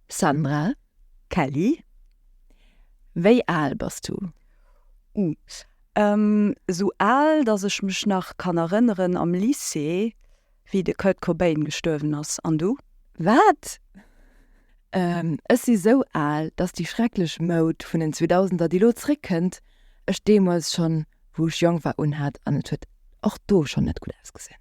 Sandra, Kelly, wéi al bass du? Ute, Esou al, datt ech mech nach kann erënneren am Lycée, wéi de Kurt Cobain gestuerwen ass. An du? Wat? Ech si sou al, datt déi schrecklech Moud vun den Zweedausender, déi elo zréckkënnt, ech deemools schonn, wou ech jonk war, unhat an et huet och do schonn net gutt ausgesinn.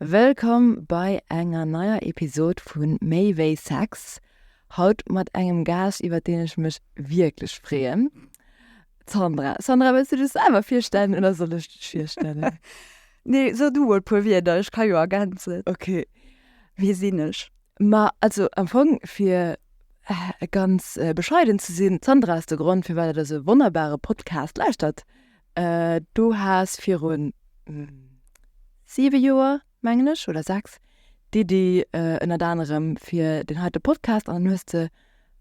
Wëllkomm bei enger neier Episod vu Méi wéi Sex. Haut mat engem Gaascht iwwert deen ech mech wierklech freeën. D'Sandra. Sandra wëlls du dech selwer virstellen oder soll ech dech virstellen? Nee, so du mol puer Wierder, ech ka jo ergänzen. Okay. Wie sinn ech? Ma also am Fong fir ganz bescheiden ze sinn, d'Sandra ass de Grond firwat et esou e wonnerbare Podcast lauschtert. Du has virun siwe Joer, mengen ech, oder sechs, d'Iddi ënnert anerem fir deen heite Podcast an dann hues de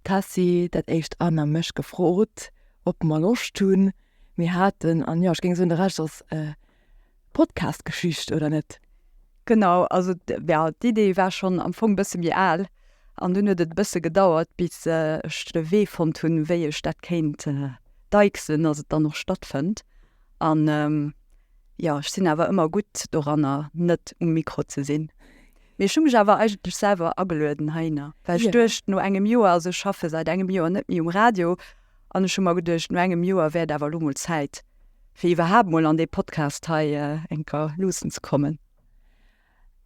d'Tessy, dat éischt Ann a mech gefrot, ob mer Loscht hunn. Mir haten, an jo, ech géing soen, de Rescht ass. Podcast-Geschicht, oder net? Genau, also ja, d'Idee war schonn am Fong e bësse méi al an dunn huet et e bësse gedauert, bis ech de Wee fonnt hunn, wéi ech dat kéint deichsen, dass et dann och stattfënnt. An jo, ech sinn awer ëmmer gutt doranner, net um Mikro ze sinn. Mee ech hu mech awer eigentlech selwer agelueden heihinner, well ech duecht no engem Joer, also ech schaffe säit engem Joer net méi um Radio, An ech hu mer geduecht, no engem Joer wär et awer elo mol Zäit, fir iwwerhaapt mol an dee Podcast hei eng Kéier luussen ze kommen.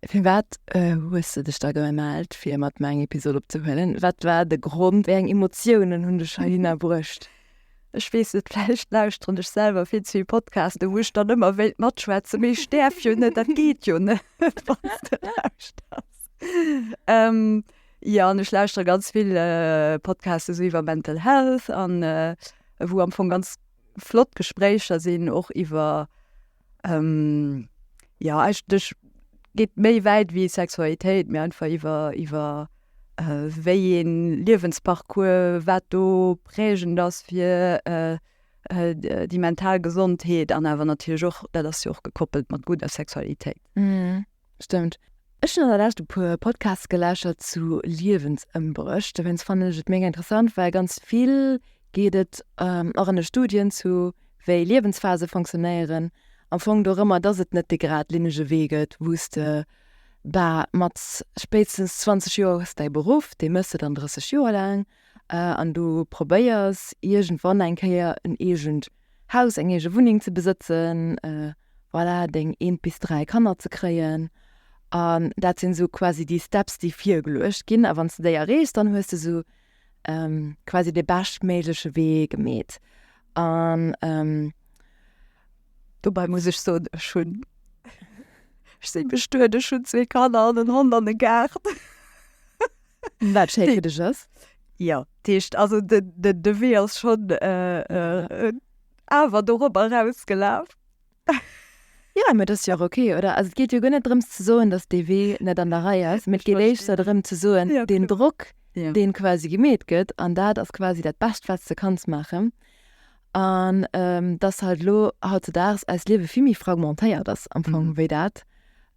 Firwat hues de dech da gemellt, fir mat mer eng Episod opzehuelen? Wat war de Grond? Wéi eng Emotiounen hunn dech heihinner bruecht? Ech weess net, vläicht lauschteren ech selwer vill ze vill Podcasten, wou ech dann ëmmer wéilt matschwätzen, mee ech däerf jo net, dat geet jo net, wann s de lauschters. Jo an ech lauschtere ganz vill Podcasts esou iwwer Mental Health an wou am Fong ganz flott Gespréicher sinn och iwwer jo eigentlech geet méi wäit wéi Sexualitéit mee einfach iwwer iwwer wéi ee Liewensparcours wat do prägend ass fir déi mental Gesondheet an awer natierlech och dat ass jo och gekoppelt mat gudder Sexualitéit. Stëmmt. Ech hunn an der Lescht e puer Podcasts gelauschtert zu Liewensëmbréch. Dowéinst fannen ech et mega interessant, well ganz vill geet et och an de Studien zu, wéi Liewensphase fonctionnéieren. Am Fong dorëmmer, dass et net dee gradlinnege Wee gëtt, wou s de bah mat spéitstens 20 Joer hues däi Beruff, dee méchs de dann 30 Joer laang, an du probéiers iergendwann eng Kéier en eegent Haus, eng eege Wunneng ze besëtzen, voilà, deng eent bis dräi Kanner ze kréien. An dat sinn esou quasi déi Steps, déi virgeluecht ginn. A wann s de déi erreechs, dann hues de esou quasi dee beschtméigleche Wee gemeet. An dobäi muss ech soen, ech hunn, ech si bestuet, ech hunn zwee Kanner an en Hond an e Gaart. Wat schéiwerdeg ass. Ja, d'heescht also de Wee ass schonn awer dorobber erausgelaf. Ja mee dat ass jo och ok, oder? Also et geet jo guer net drëms ze soen, datt dee Wee net an der Rei ass, mee et geet éischter drëm ze soen, deen Drock, dee quasi gemeet gëtt, an dat ass quasi dat Bescht wat s de kanns maachen, An dass halt elo hautzedaags eist Liewe vill méi fragmentéiert ass am Fong wéi dat,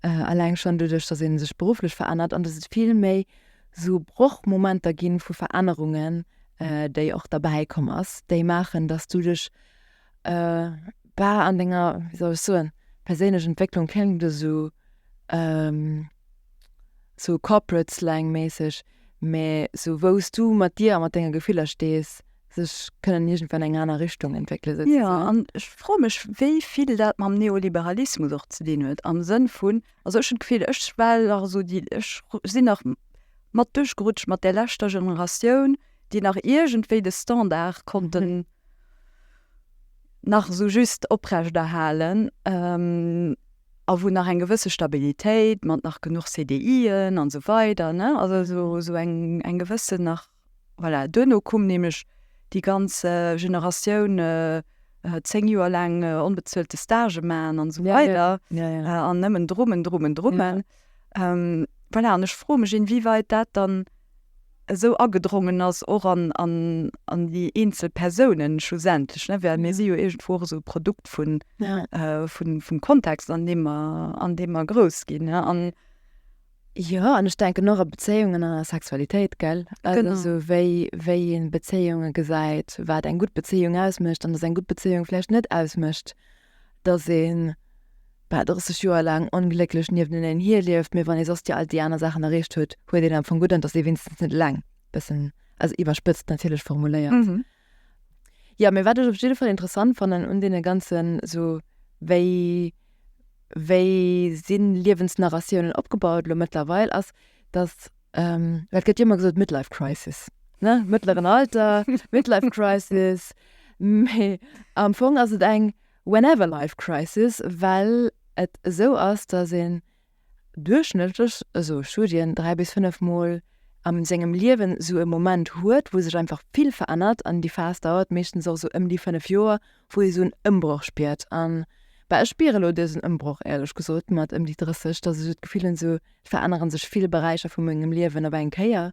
alleng schonn doduerch, dass ee sech berufflech verännert an dass et vill méi esou Brochmomenter gi vu Verännerungen, déi och derbäi komm ass, déi maachen, dass du dech an denger, wéi soll ech soen, perséinlech Entwécklung kléngt esou corporate-slang-mässeg, mä esou wou s du mat dir a mat denge Gefiller stees. sech kënnen iergendwann eng aner Richtung entwéckele souzesoen. Jo, an ech froe mech, wéi vill dat mam Neoliberalismus och ze dinn huet, am Sënn vun, also ech hunn d'Gefill, ech war nach esou déi, ech sinn nach mat duerchgerutscht mat där leschter Generatioun, déi nach iergendwéi de Standard konnten nach esou just oprechterhalen a wou nach eng gewësse Stabilitéit mat nach genuch CDIen an esou weider, ne, also esou eng gewësse nach. Voilà, duerno koum nämlech déi ganz Generatioun 10 Joer laang onbezuelte Stagë maachen an esou weider an nëmmen Drummen, Drummen, Drummen. Voilà, an ech froe mech, inwieweit dat dann esou agedrongen ass och an déi eenzel Persounen schlussendlech, ne? Well mir si jo iergendwou och esou e Produkt vum Kontext, an deem mer grouss ginn, ne? Jo an ech denken och a Bezéiungen an a Sexualitéit gell, also wéi wéi een Bezéiunge gesäit, wat eng gutt Bezéiung ausmécht an dass eng gutt Bezéiung vläicht net ausmécht, dass een bah 30 Joer laang onglécklech niefteneneen hier lieft, mee wann ee soss déi all déi aner Saachen erreecht huet, huet een am Fong gutt an dass ee wéinstens net eleng, bëssen also iwwerspëtzt natierlech formuléiert. Jo, mee wat ech op jidde Fall interessant fannen un deene ganzen esou wéi, wéi si Liewensnarratiounen opgebaut elo mëttlerweil, ass, datt, well et gëtt jo ëmmer gesot Midlife Crisis, ne, mëttleren Alter, Midlife Crisis, mee am Fong ass et eng Whenever Life Crisis, well et esou ass, datt een duerchschnëttlech, esou Studien, dräi bis fënnef Mol a sengem Liewen esou e Moment huet, wou sech einfach vill verännert. An déi Phas dauert meeschtens och esou ëm déi fënnef Joer, wou ee esou en Ëmbroch spiert. A bah, ech spiere elo dësen Ëmbroch éierlech gesot mat ëm déi 30, dass ech et d'Gefill hunn, esou verännere sech vill Beräicher vu mengem Liewen op eng Kéier.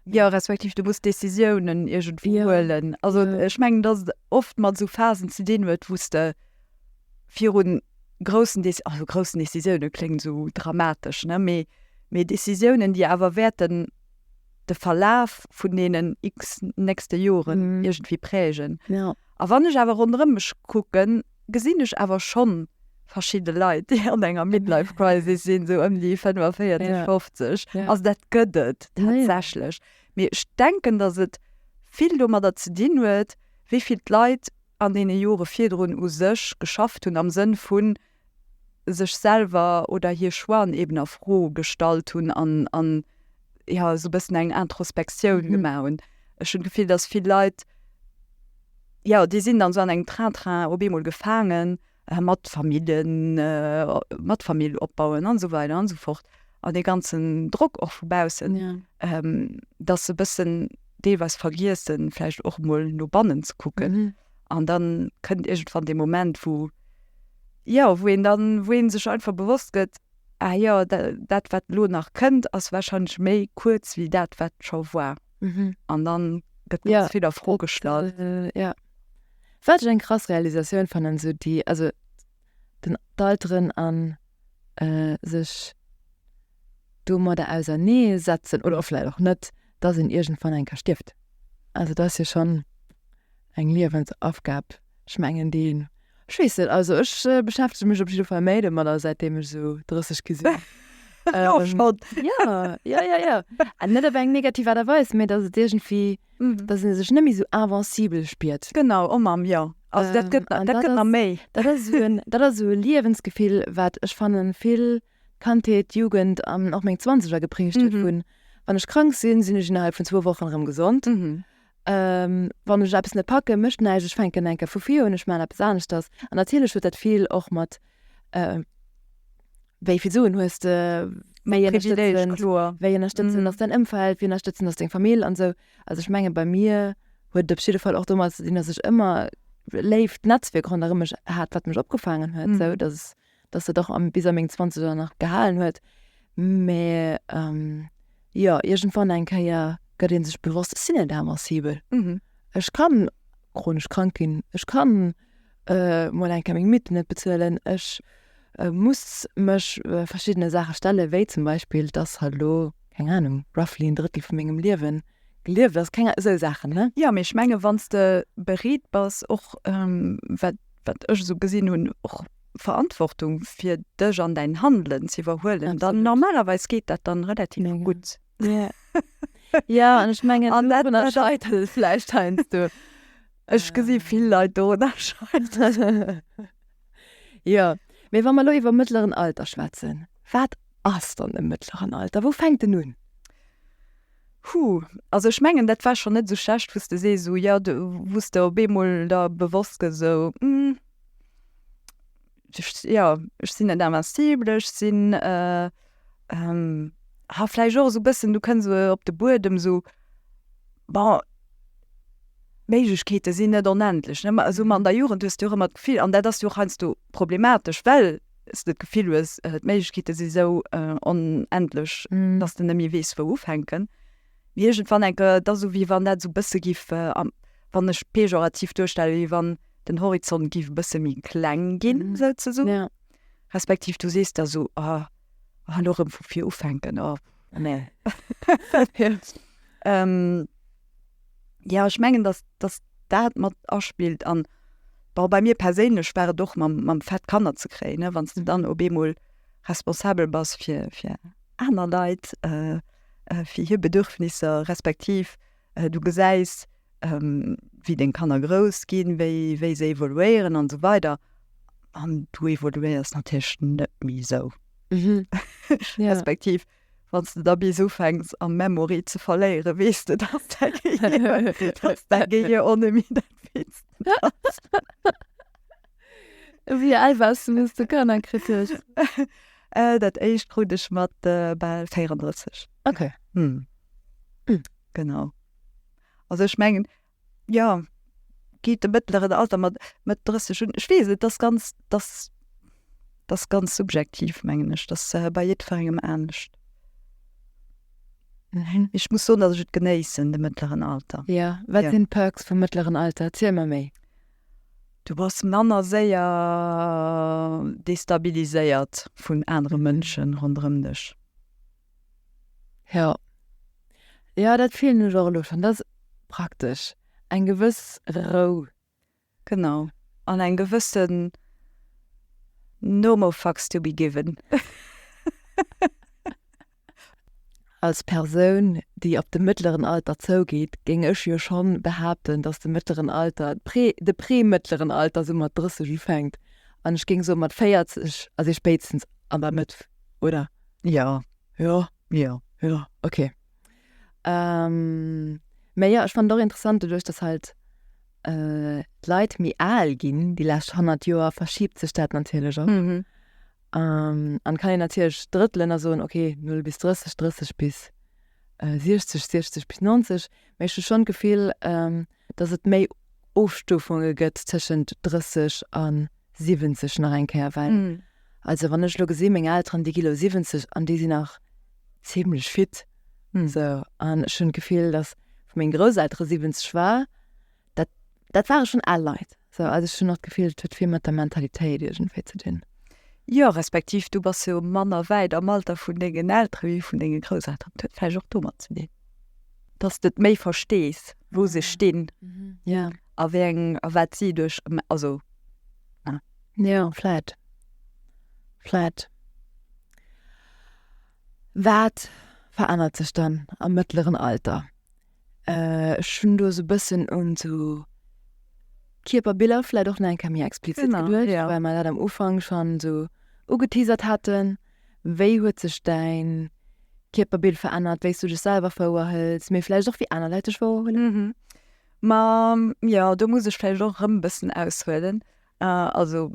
Jo, respektiv du muss Decisiounen iergendwéi huelen. Also ech mengen, datt et oft mat esou Phasen ze dinn huet, wou s de viru groussen Deci, also groussen Decisiounen kléngt esou dramatesch, ne, mee mee Decisiounen, déi awer wäerten de Verlaf vun deenen x-ten nächste Joren iergendwéi prägen. A wann ech awer ronderëm mech kucken, gesinn ech awer schonn verschidde Leit, déi an enger Midlife Crisis sinn, esou ëm déi 45, 50. Also dat gëtt et tatsächlech. Mee ech denken, datt et vill domadder ze dinn huet, wéi vill d'Leit an deene Jore virdrun u sech geschafft hunn, am Sënn vu sech selwer oder hir Choixen eben a Fro gestallt hunn an ja sou bëssen eng Introspektioun mhm. gemaach hunn. Ech hunn Gefill, dass vill Leit ja déi sinn dann so an engem Train-Train op eemol gefaangen äh, mat Familien äh, mat Famill opbauen an so weiter an so fort an de ganzen Drock och vubausen, ja. ähm, dat se bëssen deelweis vergiessen, flecht och moll no bannen ze kucken. Mhm. An dann kënnt egent van de Moment, wo ja, wo en dann wo en sech einfach bewosst gëtt, Ah jo, dat wat elo nach kënnt ass wahrscheinlech méi kuerz wéi dat wat scho war. Mhm. An dann gëtt ganz ja. vill a Fro gestallt. Äh, ja. Wat eng krass Realisatioun fannen so déi also den d'Alteren an äh, sech do mat der auser nee setzen oder offläit och net, dat en irgend van eng ka stift. Also dat jo schon eng Liewensaufgab. Ech mengen deen. Ech weess net, also ech beschäftege mech op jidde Fall méi domat a säitdeem ech esou 30 gi sinn. Elo schonn? Jo, jo, jo, jo. An net op eng negativ Aart a Weis, mä datt et iergendwéi, datt ee sech net méi esou invincible spiert. Genau, oh Mamm, jo. Also dat gëtt, dat gëtt nach méi. Dat ass esou en, dat ass esou e Liewensgefill, wat ech fannen vill Kandheet, Jugend an och meng Zwanzeger geprägt huet vun, wann ech krank sinn, sinn ech innerhalb vun zwou Wochen erëm gesond. Wann ech eppes net packen, mécht näischt, ech fänken eng Kéier vu vir un, ech maachen eppes aneschters. An natierlech huet dat vill och mat wéi vill Suen hues de, wéi ënnerstëtzen ass däin Ëmfeld, wéi ënnerstëtzend ass deng Famill an esou. Also ech menge bei mir huet et op jidde Fall och domat ze dinn, datt ech ëmmer léift Netzwierk ronderëm mech hat, wat mech opgefaangen huet, esou datt. dass dat och bis a meng Zwanzeger nach gehalen huet. Mä jo, iergendwann eng Kéier gëtt ee sech bewosst, Ech sinn net ëmmer sibel. Ech ka chronesch krank ginn, ech ka mol eng Kéier meng Mieten net bezuelen, ech muss mech verschiddene Saache stellen, wéi zum Beispill, dass halt elo, keng Ahnung, roughly en Drëttel vu mengem Liewen gelieft ass. Keng Ahnung, esou Saachen. Jo, mee ech menge wann s de bereet bass, och wat ech esou gesinn hunn, och Verantwortung fir dech an dein Handelen ze iwwerhuelen, dann normalerweis geet dat dann relativ gutt. Ja an ech mengen an dat erscheitert vläicht heiansdo. Ech gesi vill Leit dorunner scheiteren. Jo, mee wa mer elo iwwer mëttleren Alter schwätzen, wat ass dann e mëttleren Alter? Wou fänkt en un? Hu, also ech mengen dat war schon net esou schlecht wou's de sees esou jo, wou's de op eemol der bewosst gëss esou hm ech jo ech sinn net invincible, ech sinn ha vläicht och esou bëssen du kënns esou op de Buedem esou bon d'Méiglechkeete sinn net onendlech ne, esou an der Jugend hues de jo och ëmmer d'Gefill an dat ass jo och heiansdo problematesch well. s de d'Gefill hues, d'Méiglechkeete si sou onendlech, datt s de net méi weess, wou ufänken. Mee iergendwann enke gëtt dat esou, wéi wann dat esou e bësse giff, wann ech pejorativ duerstellen, wéi wann den Horizont giff e bësse méi kleng ginn souzesoen. Respektiv du sees da esou, oh, elo erëm vu vir ufänken, oh, nee. ja, ech mengen, dass, dass dat mat aspillt. An, bon, bei mir perséinlech war et och mam, mam Fait, Kanner ze kréien, ne, wann s de dann op eemol responsabel bass fir, fir aner Leit, fir hir Bedürfnisser, respektiv du gesäis, wéi deng Kanner grouss ginn, wéi, wéi se evoluéieren an esou weider. An du evoluéiers natierlech net méi esou. Respektiv Wann s de da bis ufänks a Memory ze verléiere weess de, dass däi Gehir och net méi dat Fittst ass. Wéi al waars du, wéi s de Kanner kritt hues? Dat éischt krut ech mat bal 34. Genau. Also ech mengen. jo geet de mëttleren Alter mat mat 30 un. Ech weess et dass ganz dass dass ganz subjektiv mengen ech dass bei jiddwerengem anescht. Ech muss soen dass ech et genéissen de mëttleren Alter. Jo wat sinn d'Perks vum mëttleren Alter? Erziel mer méi. Du bass manner séier destabiliséiert vun anere Mënschen ronderëm dech. Jo. Jo, dat fillen ech och elo schonn. Dat ass praktesch. Eng gewëss Rou. Genau. An eng gewëssen No-more-fucks-to-be-given. Als Persoun, déi op de mëttleren Alter zougeet, géing ech jo scho behaapten, datt de mëttleren Alter, d'Prä-, de pre-mëttleren Alter sou mat 30 ufänkt. An ech géing soe mat 40 ass ee spéitstens an der Mëtt, oder? Jo, jo, jo, jo, ok. Mä jo, ech fannen et och interessant, doduerch datt halt d'Leit méi al ginn déi lescht 100 Joer, verschiebt sech dat natierlech och. An kann een natierlech drëttelen a soen, ok, null bis 30, 30 bis 60, 60 bis 90. Mä ech hu schonn d'Gefill, dass et méi Ofstufunge gëtt tëschent 30 a 70 nach eng Kéier, well also wann ech elo gesi meng Elteren, déi gi elo 70 an déi sinn nach zimlech fit esou an ech hunn d'Gefill, dass wou meng Grousseltere 70 war, dat dat ware schonn al Leit. So, also ech hunn och d'Gefill, et huet vill mat der Mentalitéit iergendwéi ze dinn. Jo, respektiv du bass jo manner wäit am Alter vun dengen Eltere wéi vun denge Grousselteren. Dat huet vläicht och domat ze dinn, dass de et méi verstees, wou se stinn a wéi eng a wat si duerch, also. Jo, vläicht. Vläicht. Wat verännert sech dann am mëttleren Alter? Ech hunn do esou e bëssen un esou Kierperbiller vläicht och nach eng Kéier méi explizitt geduecht. Genau, jo. Well mer dat am Ufank schonn esou ugeteasert haten. Wéi huet sech däin Kierperbild verännert, wéi s du dech selwer wouerhëls, mee vläicht och wéi aner Leit dech wouerhuelen? Ma jo, do muss ech vläicht och erëm e bëssen aushuelen. Also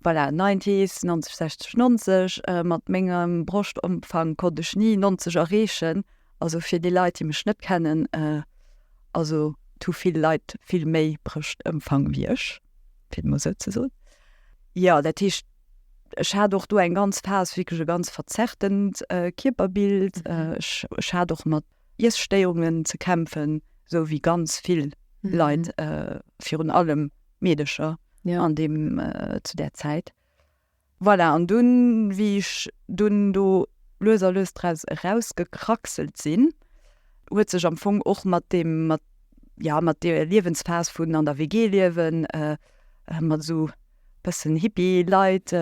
voilà, Nineties, 90, 60, 90, mat mengem Broschtomfang konnt ech ni 90 erreechen. Also fir déi Leit, déi mech net kennen, also et hu vill Leit vill méi Brëschtëmfang wéi ech, fir et emol esou ze soen. Jo, dat heescht, ech hat och do eng ganz Phas, wierklech e ganz verzerrtent Kierperbild. Ech hat och mat Iesstéierungen ze kämpfen, esou wéi ganz vill Leit, virun allem Meedecher an deem zu där Zäit. Voilà, an dunn, wéi ech dunn do lues a lues draus erausgekraxelt sinn, huet sech am Fong och mat deem, mat, jo, mat deeër Liewensphas vun an der WG liewen, mat esou. bëssen Hippie Leit,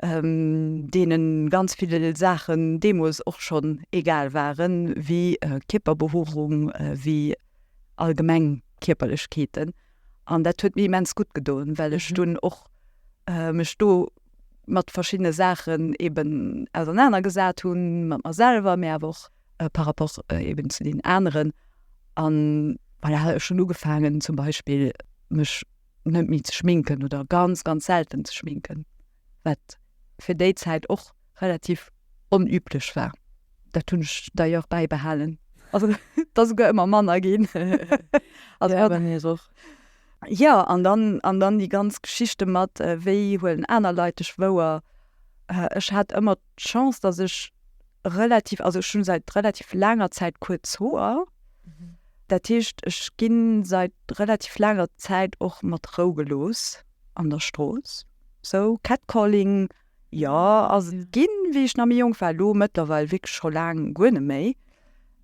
deenen ganz vill Saachen deemools och schonn egal waren, wéi Kierperbehuerung, wéi allgemeng Kierperlechkeeten. An dat huet mir immens gutt gedoen, well ech dunn och mech do mat verschiddene Saachen eeben ausernanergesat hunn, mat mer selwer, mä awer och par rapport eeben zu deenen aneren. An voilà, ech hunn ugefaangen zum Beispill mech net méi ze schminken oder ganz ganz selten ze schminken, wat fir déi Zäit och relativ onüblech war. Dat hunn ech d'ailleurs bäibehalen. Also dat ass souguer ëmmer manner ginn. Also ja, bei mir och. Jo, an dann, an dann déi ganz Geschichte mat, wéi huelen aner Leit dech wouer? Ech hat ëmmer d'Chance, dass ech relativ, also ech hunn seit relativ laanger Zäit kuerz Hoer. Dat heescht, ech ginn seit relativ laanger Zäit och mat Rou gelooss an der Strooss. Sou Catcalling, jo, ass et ginn, wéi ech nach méi jonk war. Elo mëttlerweil wierklech scho laang guer net méi.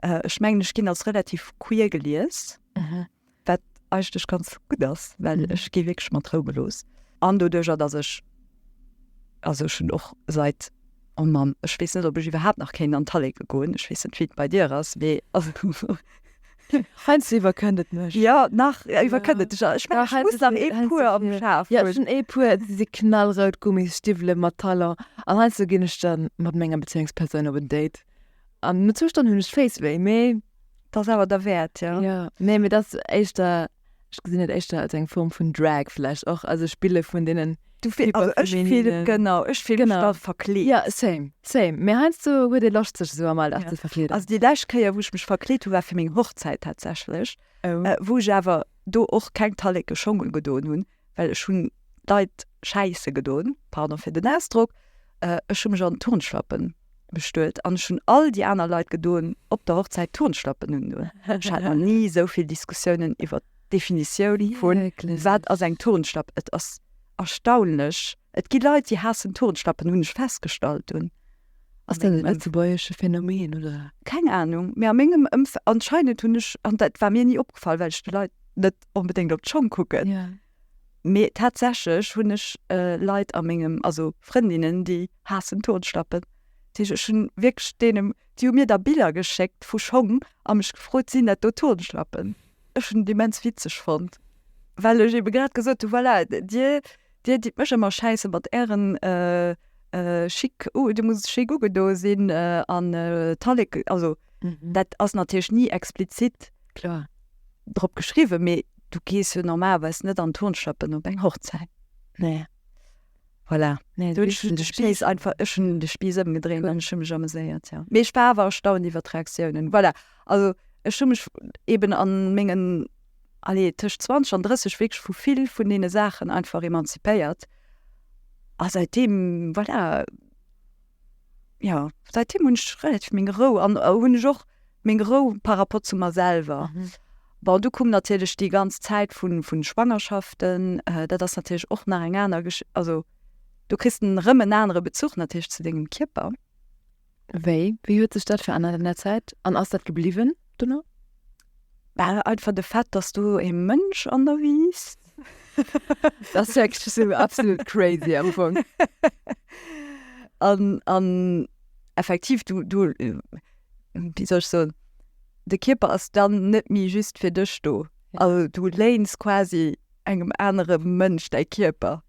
Ech mengen, ech ginn als relativ queer gelies. Wat eigentlech ganz gutt ass, well ech gi wierklech mat Rou gelooss. An doduercher, datt ech, also ech hunn och seit, oh Mann, ech weess net, ob ech iwwerhaapt nach kéint an d'Halleke goen. Ech weess net, wéi et bei dir ass, mee also. Heiansdo iwwerkënnt et mech. Jo, nach iwwerkënnt et dech. Ech mengen, ech muss nach ee puer am Schaf hunn. Jo, ech hunn ee puer, déi si knallrout, Gummisstiwwele mat Talon. An heiansdo ginn ech da mat menger Bezéiungspersoun op en Date. An no zwou Stonnen hunn ech Féisswéi, mee et ass awer derwäert, jo. Jo, nee, mee et ass éischter, ech gesinn et éischter als eng Form vun Drag vläicht och, also Spille vun deenen. Du fil, also ech fil, genau, ech fil mech da verkleet. Jo, same, same. Mee heiansdo huet ee Loscht sech esou am Alldag ze verkleeden. Also déi lescht Kéier wou ech mech verkleet hunn, war fir meng Hochzäit tatsächlech, wou ech awer do och keng talleke Schong ugedoen hunn, well ech hunn d'Leit schäisse gedon, pardon fir den Ausdrock, ech hunn mech an Turnschlappen bestuet an ech hunn all déi aner Leit gedon op der Hochzäit Turnschlappen undun. Ech hat nach ni esou vill Diskussiounen iwwert d'Definitioun vun, wat ass eng Turnschlapp? Et ass erstaunlech, et gi Leit, déi haassen Turnschlappen, hunn ech festgestallt, un Ass dat e lëtzebuergesche Phänomen, oder? Keng Ahnung, mee a mengem Ëmfeld, anscheinend hunn ech, an dat war mir ni opgefall, well ech de Leit net onbedéngt op d'Schong kucken, mee tatsächlech hunn ech Leit a mengem, also Frëndinnen, déi haassen Turnschlappen. Dat heescht, ech hunn wierklech deenen, déi hu mir da Biller geschéckt vu Schong a mech gefrot, sinn dat do Turnschlappen? Ech hunn et immens witzeg fonnt, well ech eebe grad gesot hunn, voilà, dir, Dir ditt mech emmer schäissen mat ären chic oh du muss chic ugedo sinn an Tallek also dat ass natierlech ni explizit klar drop geschriwwen mee du gees jo normalerweis net an Turnschlappen op eng Hochzäit nee voilà nee do hunn ech de Spiiss einfach ech hunn de Spiiss ëmgedréint an ech hu mech ameséiert jo mee ech war awer erstaunt iwwert d'Reaktiounen voilà also ech hu mech eben an mengen allez, tëscht 20 an 30 wierklech vu vill vun deene Saachen einfach emanzipéiert. A säitdeem, voilà, jo, säitdeem hunn ech relativ meng Rou an hunn ech och meng Rou par rapport zu mer selwer. Bon, du koum natierlech déi ganz Zäit vu Schwangerschaften, dat ass natierlech och nach eng aner Gesch-, also do kriss de erëm en anere Bezuch natierlech zu dengem Kierper. Wéi? Wéi huet sech dat verännert an der Zäit? An ass dat gebliwwen dono? Bah, einfach de Fait, dass du e Mënsch an der wiisst. Dat ass wierklech sou absolut crazy am Fong. An, an effektiv, du, du, wéi soll ech soen, de Kierper ass dann net méi just fir dech do. Also du léins quasi engem anere Mënsch däi Kierper.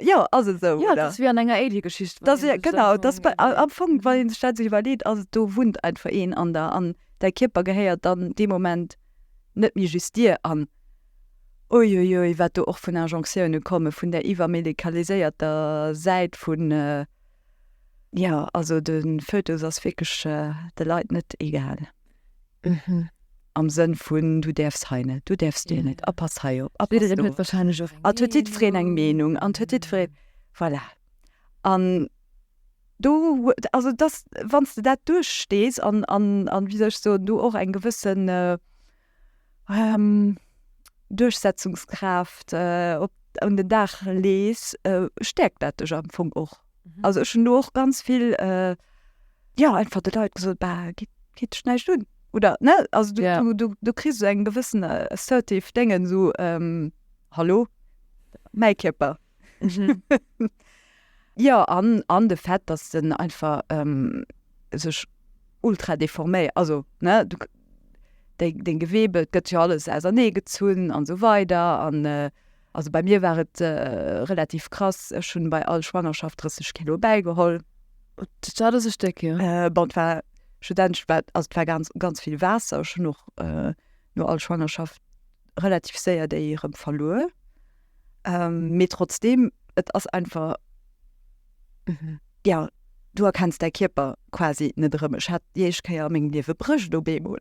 Jo, ass et esou, oder? Jo, et ass wéi an enger Alien-Geschicht. Dass ee, genau, dass bei, am Fong, wann ee sech dat esou iwwerleet, ass et, do wunnt einfach een an der, an däi Kierper gehéiert dann dee Moment net méi just dir. An uiuiui, wat do och vun Injonctiounen komme vun där iwwermedikaliséierter Säit vun, jo, also de Fötus ass wierklech de Leit net egal. Mhm. Am Sënn vun, du däerfs hei net, du däerfs do net, a pass hei op, a pass do op. Et huet jiddwereen eng Meenung an et huet jiddwereen, voilà. An do, also dass, wann s de dat duerchstees an, an, an, wéi soll ech soen, do och eng gewësse Duerchsetzungskraaft op, un den Dag lees, stäerkt dat dech am Fong och. also ech hun do och ganz vill äh, ja einfach de Leit gesot bah, geht, geht dich näischt un oder ne also du, Ja. du, du, du kriegst so eng gewissen äh, assertive Dengen so ähm, hallo mäi Kierper Mhm. ja an an de Fett dass den einfach ähm, sech ultra deforméiert also ne du k- deng, deng Gewebe gëtt ja alles ausernee gezunn an so weider an äh, Also bei mir war et relativ krass, ech hunn bei all Schwangerschaft 30 Kilo bäigeholl. Dat ass e Stéck, jo. Bon, et war studentesch, war, also et war ganz, ganz vill Waasser. Ech hunn och no all Schwangerschaft relativ séier déi erëm verluer. Mee trotzdeem, et ass einfach, jo, du erkenns däi Kierper quasi net erëm. Ech hat déi éischt Kéier a mengem Liewe Bréischt op eemol.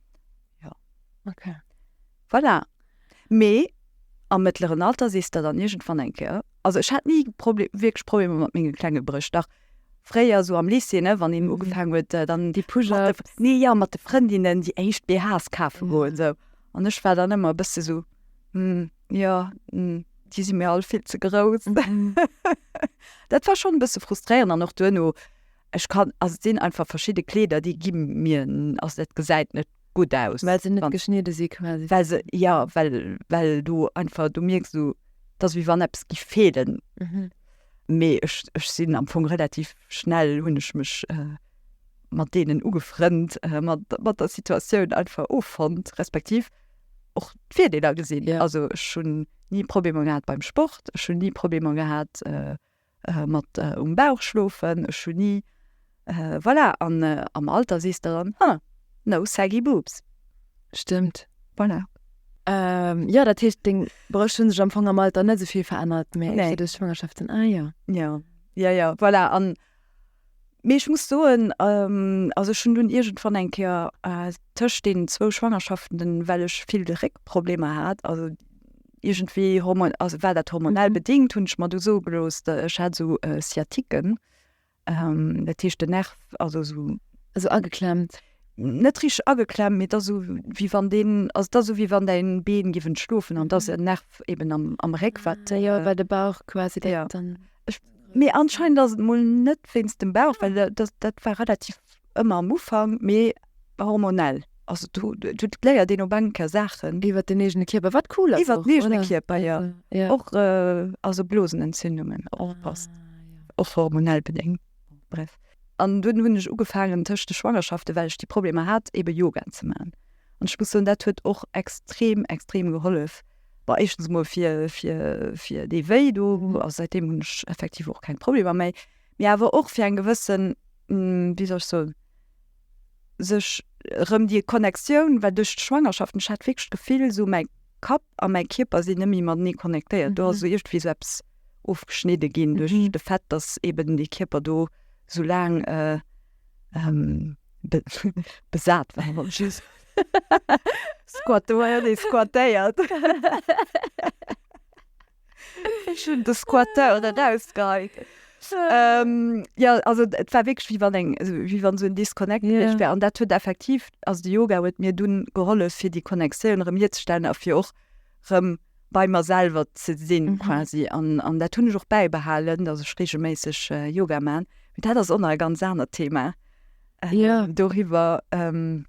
Jo. Ok. Voilà. Mee am mëttleren Alter sees der dann irgendwann eng Kéier, also ech hat ni Problem, wierklech Problemer mat menge klenge Bréch, dach fréier sou am Lycée, ne, wann een ugefaangen huet, dann déi Push-ups, nee, jo, mat de Frëndinnen déi éischt BHs kafe goen, sou, an ech war dann ëmmer e bësse sou, hm, jo, hm, déi si mir all vill ze grouss. Dat war schonn e bësse frustréierend an och duerno, Ech kann, also et sinn einfach verschidde Kleeder, déi gi mir, also dat gesäit net gutt aus. Well se net geschnidde si quasi. Well se, jo, well, well do einfach, do mierks du, et ass wéi wann eppes géif feelen. Mee ech, ech sinn am Fong relativ schnell, hunn ech mech mat deenen ugefrënnt, mat, mat der Situatioun einfach offonnt, respektiv och d'Virdeeler gesinn. Also ech hunn ni Problemer gehat beim Sport, ech hunn ni Problemer gehat, äh, mat äh, um Bauch schlofen, ech hunn ni, äh, voilà, an äh, am Alter sees der dann, huh, no saggy boobs. Stimmt. Voilà. Ähm, ja, dat heescht deng Brëscht hunn sech am Fong am Alter net esou vill verännert, mä Nee. nee. duerch Schwangerschaften. Ah ja. Ja, ja, ja, voilà, an Mee ech muss soen, also ech hunn dunn iergendwann eng Kéier tëscht deenen zwou Schwangerschaften den, well ech vill Réckproblemer hat, also iergendwéi hormo-, also war dat hormonell bedéngt, hunn ech mer du soe gelooss, ech hätt esou Sciatique, dat heescht den Nerv, also esou. Esou ageklemmt. net richteg ageklemmt, mee et ass esou wéi wann deen, also et ass esou wéi wann däin Been géif entschlofen an et ass en Nerv eben am, am Réck wat. Ah jo, well de Bauch quasi dat dann. Mee anscheinend ass et mol net wéinst dem Bauch, well dat, dat war relativ ëmmer am Ufank, mee hormonell. Also do, do léiert een op eng Kéier Saachen. Iwwer den eegene Kierper, wat cool ass och, oder? Iwwer den eegene Kierper, jo. Jo. Och, also Blosenentzündungen, och, passt. Ah jo. Och hormonell bedéngt, bref. An dunn hunn ech ugefaangen tëscht de Schwangerschaften, well ech déi Problemer hat, eebe Yoga ze maachen. An ech muss soen, dat huet och extrem, extrem gehollef. Bon, éischtens emol fir, fir, fir dee Wéi do, a säitdeem hunn ech effektiv och keng Problemer méi. Mee awer och fir eng gewësse, wéi soll ech soen, sech erëm déi Connectioun, well duerch d'Schwangerschaften, ech hat wierklech d'Gefill, esou mäi Kapp, a mäi Kierper sinn net méi matenee connectéiert. Do ass iergendwéi esou eppes ofgeschnidde ginn duerch de Fait, datt eben dee Kierper do sou laang besat war, wollt ech soen, squattéiert. Ech hunn de Squatter erausgeheit. Ähm, ja, also et war wirklich wie wann eng wie wann sou Disconnect yeah. gewicht wär an dat huet effektiv also de Yoga huet mir dunn gehollef fir die Connectioun rem hierzestellen a fir och rem bei mer selber ze sinn mm -hmm. quasi an an dat hunn ech och beibehalen dat ech regelméisseg äh, Yoga man mit dat ass onnei ganz aner Thema äh, yeah. doriwer ähm,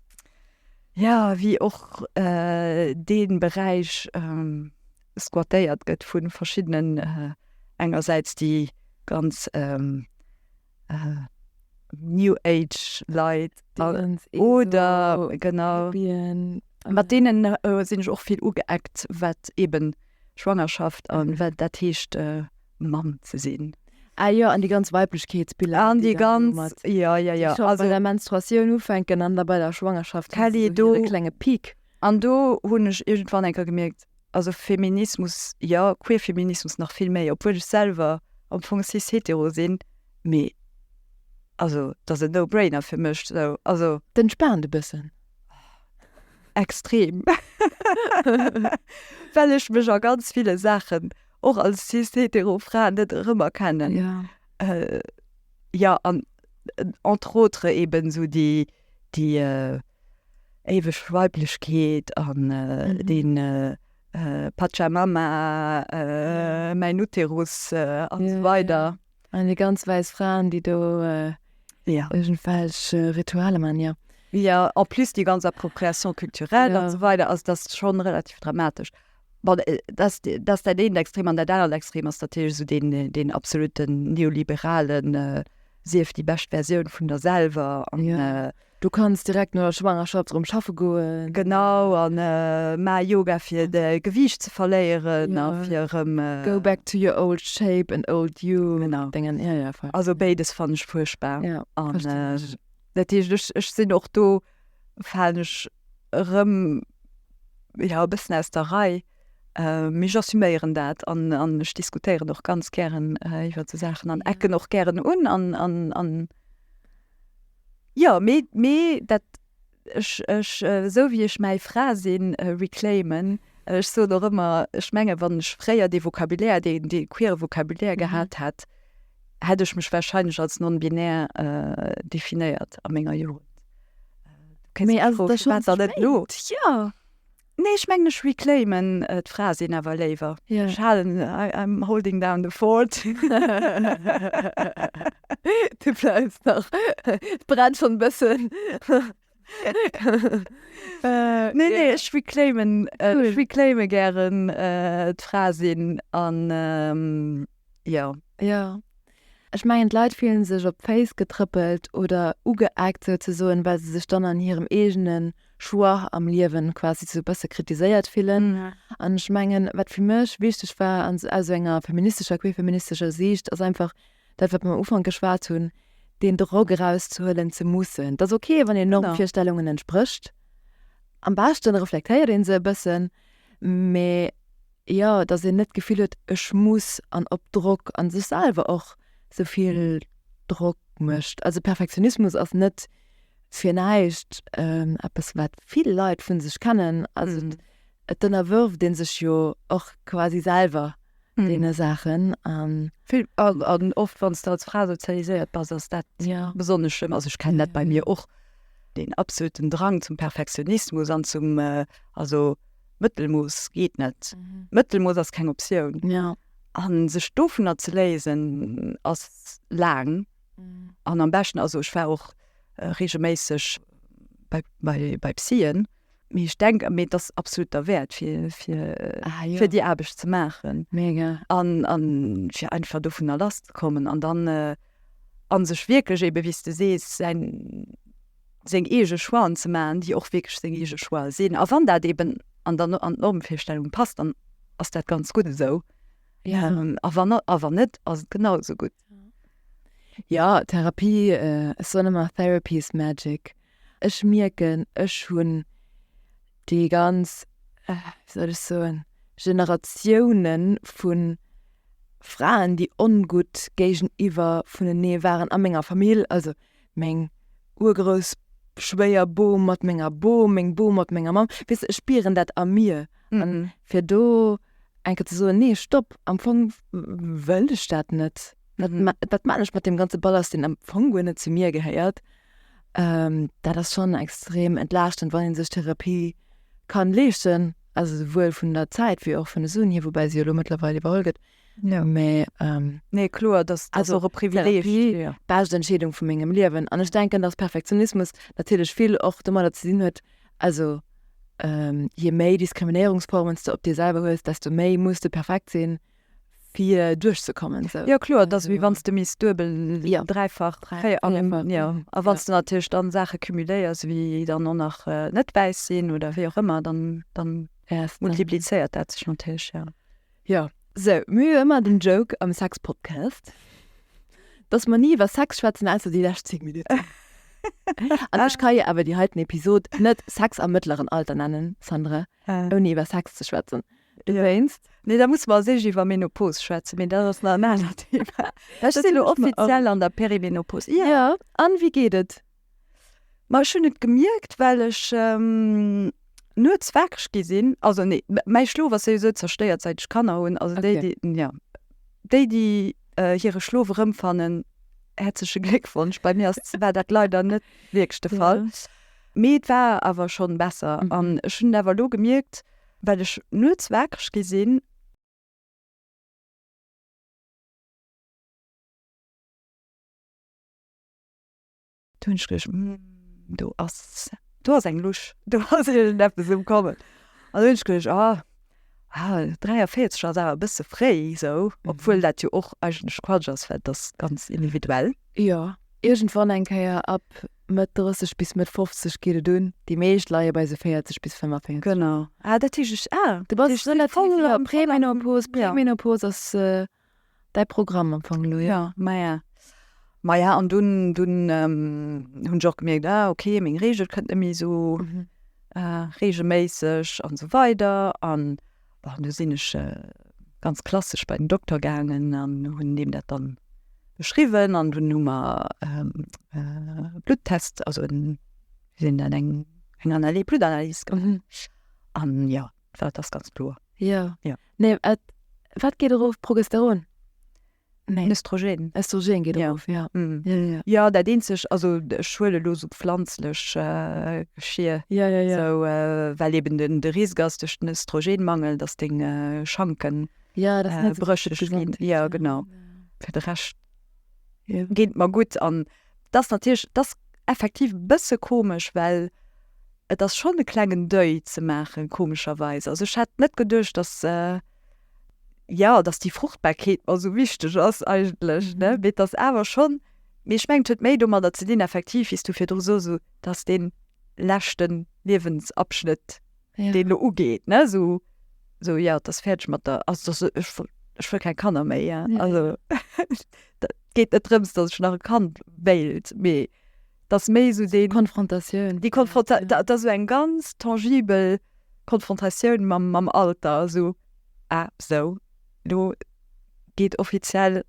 ja wie och äh, den Bereich ähm, squattéiert gëtt vu verschiddenen, engersäits déi ganz New Age Leit, oder genau, mat deene sinn ech och vill ugeeckt, wat eeben Schwangerschaft a wat dat heescht Mamm ze sinn. Ah jo, an déi ganz Weiblechkeetsbiller, an déi ganz, jo, jo, jo, déi bei der Menstruatioun ufänken an da bei der Schwangerschaft, Kelly, do, hire klenge Peak. An do hunn ech iergendwann eng Kéier gemierkt, Also Feminismus jo, Queerfeminismus nach vill méi, obwuel ech selwer am Fong cis-hetero sinn, mee also dat ass e No-Brainer fir mech sou, also. T'entspaant e bëssen. Extrem. Well ech mech a ganz ville Saachen och als cis-hetero Fra net erëmerkennen. Jo. Jo, an entre autres eben sou déi. déi éiweg Weiblechkeet an dee Pachamama, mäin Uterus an esou weider. An déi ganz wäiss Fraen, déi do iergendwelch Ritualer maachen, jo. Jo, en plus déi ganz Appropriation culturelle an esou weider. Also dat ass schonn relativ dramatesch. Bon, äh, dass, dass dat een extrem an dat anert extrem ass natierlech esou deen, deen absoluten neoliberalen äh, sief déi bescht Versioun vun der selwer an Ja. äh, Du kanns direkt no der Schwangerschaft erëm schaffe goen. genau an äh, ma Yoga fir de Gewiicht ze verléieren Ja. a fir erëm äh, Go back to your old shape and old you. Genau. Denken, ja, ja, voll. Also béides fannen ech fuerchtbar. Ja, an verstehe äh, ich. dat heescht ech, ech sinn och do falen ech erëm e bëssen aus der Rei. Mee j'assuméieren dat an ech diskutéieren och ganz gären iwwer esou Saachen an ecken och gären un. Jo, mee dat, ech, ech, esou wéi ech mäi Fra sinn, reclaimen. Ech soen och ëmmer, ech menge wann ech fréier dee Vocabulaire, dee queere Vocabulaire gehat hätt, hätt ech mech wahrscheinlech als non-binär definéiert a menger Jugend. Mee ass et da schonn ze spéit? Ja. Nee, ech mengen ech reclaimen d'Frae sinn awer léiwer. Yeah. Ech halen, I'm holding down the fort. Du bleiws nach, et brennt schonn e bëssen. nee, nee, ech reclaimen, äh, cool. reclaime gären äh, d'Fra sinn an ähm, ja. Ja. Ech mengen d'Leit fielen sech op d'Face getrëppelt oder ugeeckt sou ze soen, well se sech dann an hirem eegenen Choix am Liewen quasi sou bësse kritiséiert fillen. Mhm. An ech mengen, wat fir mech wichteg war an aus enger feministescher, queerfeministescher Siicht ass einfach, dat wat mer um Ufank geschwat hunn, deen Drock erauszehuelen ze mussen. Et ass ok, wann een Normvirstellungen entsprécht, am beschte reflektéiert ee se e bëssen, mä jo, datt een net d'Gefill huet, ech muss an op Drock a sech selwer och esou vill Drock mécht. Also Perfektionismus ass net fir näischt eppes, wat vill Leit vu sech kennen, also et ënnerwërft ee sech jo och quasi selwer. deene Saachen. An oft, wann s de als Fra sozialiséiert bass, ass dat besonnesch schlëmm. Also ech kennen dat bei mir och, deen absoluten Drang zum Perfektionismus an zum, also Mëttelmooss geet net, Mëttelmooss ass keng Optioun. An sech dovunner ze léisen, ass laang an am beschten, also ech war och reegelméisseg bei Psyen. Mee ech denken, mee dass absolut der Wert fir fir ah, ja. fir die Aarbecht ze machen mega an an fir einfach do vun der Last kommen an dann äh, an sech wirklich eben wie du sees sein seng ege Schwaen ze machen, die och wirklich seng ege Schwae sinn a wann dat eben an der an Normfirstellung passt, dann ass dat ganz gut esou ja. ähm, a wann awer net ass et genauso gut. Ja Therapie äh, Sonema Therapy is Magic. Ech mierken, ech hunn déi ganz, wéi soll ech soen, Generatioune vu Fraen, déi ongutt géigeniwwer vunenee waren a menger Famill, also meng Urgroussschwéierbom mat menger Bom, meng Bom mat menger Mamm. Weess de, ech spieren dat a mir. An fir do eng Kéier ze soen, nee, Stopp, am Fong wëll ech dat net, wat maan ech mat deem ganze Ballast, deen am Fong guer net zu mir gehéiert? Ähm, dat ass schonn extrem entlaaschtend, wann ee sech Therapie kann leeschten, also souwuel vun der Zäit wéi och vun de Suen hier, woubäi se jo elo mëttlerweil iwwerholl gëtt. Ja. Mä ähm, Nee, kloer, dass dass Also, och e Privileg. Therapie, Ja. bescht Entscheedung vu mengem Liewen. An ech denken, dass Perfektionismus natierlech vill och domadder ze dinn huet, also ähm, je méi Diskriminéierungsformen s de op dir selwer hues, desto méi muss de perfekt sinn, fir duerch ze kommen sou. Jo kloer, et ass wéi wann s de misst duebel, dräifach, véier, an a wann s de natierlech dann Saache cumuléiers wéi dann och nach net wäiss sinn oder wéi och ëmmer dann dann multiplizéiert dat sech natierlech jo. Jo sou mir hu jo ëmmer den Joke am Sex Podcast, datt mer ni iwwer Sex schwätzen ausser déi lescht 10 Minutten an ech ka jo awer déi heiten Episod net Sex am mëttleren Alter nennen Sandra ouni iwwer Sex ze schwätzen. Du wéinst? Nee, da musse mer als erscht iwwer Menopause schwätzen, mee dat ass nach en anert Thema. Ech sinn elo offiziell an der Perimenopause. Ja. Ja, an wéi geet et? Ma ech hunn et gemierkt, well ech nuets waakeg gi sinn, also nee, mäi Schlof ass souwisou zerstéiert säit ech Kanner hunn, also déi déi, ja, déi déi hire Schlof erëmfannen, häerzleche Gléckwonsch, bei mir ass, war dat leider net wierklech de Fall, mee et war awer schonn besser an ech hunn et awer elo gemierkt, well ech nuets waakreg gi sinn. Do hunn ech geduecht, Hm, do ass, do ass eng Lusch, do ass iergendeppes um Kommen. An hunn ech geduecht, Ah, ah 43 ass awer e bësse fréi esou. Obwuel dat jo och eigentlech Quatsch ass, well et ass ganz individuell. Jo, iergendwann eng Kéier ab Mëtt 30 bis Mëtt 50 geet et un. Déi meescht leie bei esou 40 bis 45. Genau. Ah, dat heescht ech, ah, du bass relativ jo, Premenopos, Premenopos ass däi Programm am Fong elo, jo. Jo, maja. Maja, an dunn, dunn hunn ech och gemierkt, ah ok, meng Reegel kënnt net méi esou reegelméisseg an esou weider an. Bon, du sinn ech äh, ganz klassesch bei den Doktor gaangen an hunn deem dat dann beschriwwen an hunn Nummer ähm, äh, Bluttest also en, sinn dann eng eng Analyse Bluttanalys gemacht. Mhm. An ja, war das ganz klo. Ja. ja. Nee, äh, wat geet erof Progesteron? Östrogen. Östrogen geet erof, ja. Jo, dat eenzeg, also ech huele elo sou pflanzlech Geschir, sou, well eben de Risk ass duerch den Östrogenmangel, datt deng Schanke brécheg ginn. Jo, genau. Fir de Rescht geet et mer gutt an et ass natierlech, et ass effektiv e bësse komesch, well et ass schonn e klengen Deuil ze maachen, komescherweis. Also ech hat net geduecht, datt. jo, dass déi Fruchtbarkeet mer esou wichteg ass eigentlech, ne, mee dass awer schonn, mee ech mengen, et huet méi domadder ze dinn, effektiv, wéi s du virdru soss, esou, dass dee leschte Liewensabschnëtt, deen do ugeet, ne, esou, esou, jo, et ass fäerdeg mat der, also dass ech wëll, ech wëll keng Kanner méi, jo, also et geet net drëms, dass ech nach e Kand wéilt, mee. dass méi esou déi Konfrontatioun, déi Konfronta, da, dass esou eng ganz tangibel Konfrontatioun mam, mam Alter, esou, ah, esou, elo geet offiziell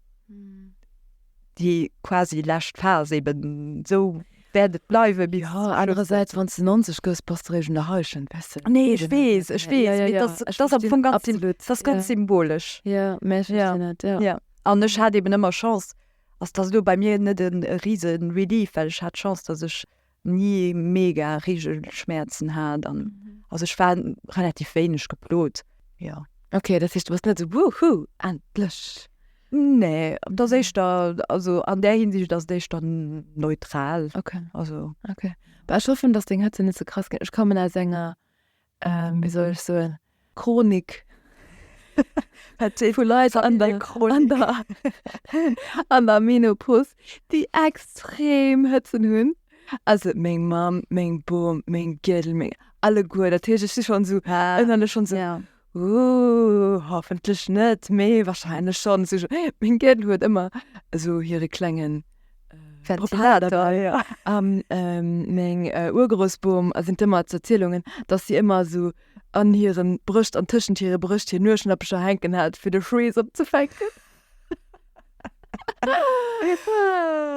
déi quasi lescht Phas, eben esou wäert et bleiwe bis. Jo, anerersäits, wann s de 90 gëss, bass de réischt an der Haischen, weißt de? Nee, ech weess, ech weess, mee dass, dass ass am Fong ganz, dass ass ganz symbolesch. Jo, mä ech verstinn et, jo. Jo, an ech hat eben ëmmer Chance, ass dass elo bei mir net e riese Relief, well ech hat d'Chance dass ech ni mega Regelschmerzen hat an also ech war relativ wéineg geplot, jo. Ok, dat heescht du bass net esou Woohoo, endlech. Nee, et ass éischter, also an där Hinsicht ass et éischter neutral. Ok, also. Ok, bah ech hoffen dass deng Hëtze net ze krass ginn. Ech kommen aus enger wéi soll ech soen, Chronik vu Leit an der Menopause, déi extrem Hëtzen hunn. Also meng Mamm, meng Bom, meng Gueddel, meng alleguer. Dat heescht, ech si schonn esou ënnerlech schonn esou, Ooh, hoffentlech net, mee warscheinlech schonn. Meng Gueddel huet ëmmer esou hire klengen. Ventilator, a meng Urgroussbom erwähnt ëmmer d'Erzielungen, datt si ëmmer esou an hire Brëscht an tëschent hire Brëscht hir Nueschnappecher hänken hat, fir de Schweess opzefänken.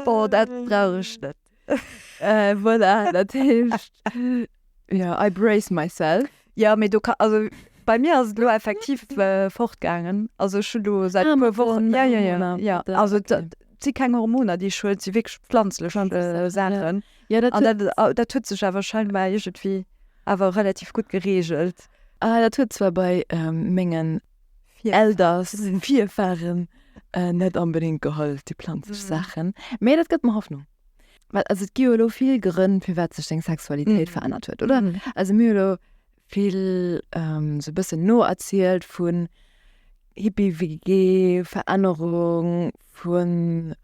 Bon, dat brauch ech net. Voilà, dat heescht, ja, I brace myself. Ja, mee do ka, also bei mir ass et elo effektiv fortgaangen. Also ech hunn elo säit e puer Wochen, jo jo jo, jo, also et si keng Hormoner déi ech huelen, et si wierklech planzlech Saachen. An dat, dat huet sech awer scheinbar iergendwéi awer relativ gutt gereegelt. Ah, dat huet zwar bei mengen Elders, Virfaren, net onbedéngt gehollef, déi planzlech Saachen, mee dat gëtt mer Hoffnung. Well also et gi jo elo vill Grënn, firwat sech seng Sexualitéit verännert huet, oder? Also mir hu elo vill esou e bëssen noerzielt vu Hippie-WG, Verännerung vu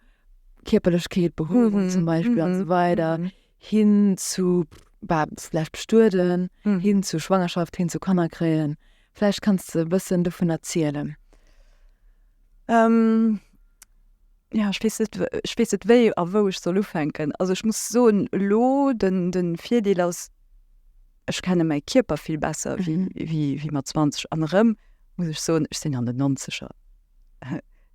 Kierperlechkeet, Behuewung zum Beispill a sou weider hin zu, war vläicht bestueden, hin zu Schwangerschaft, hin zu Kanner kréien. Vläicht kanns de e bëssen dovun erzielen. Jo, ech weess net, ech weess net wéi a wou ech soll ufänken. Also ech muss soen, elo, den, de Virdeel ass, ech kenne mäi Kierper vill besser wéi, wéi mat 20. An erëm muss ech soen, ech sinn an den Nonzeger.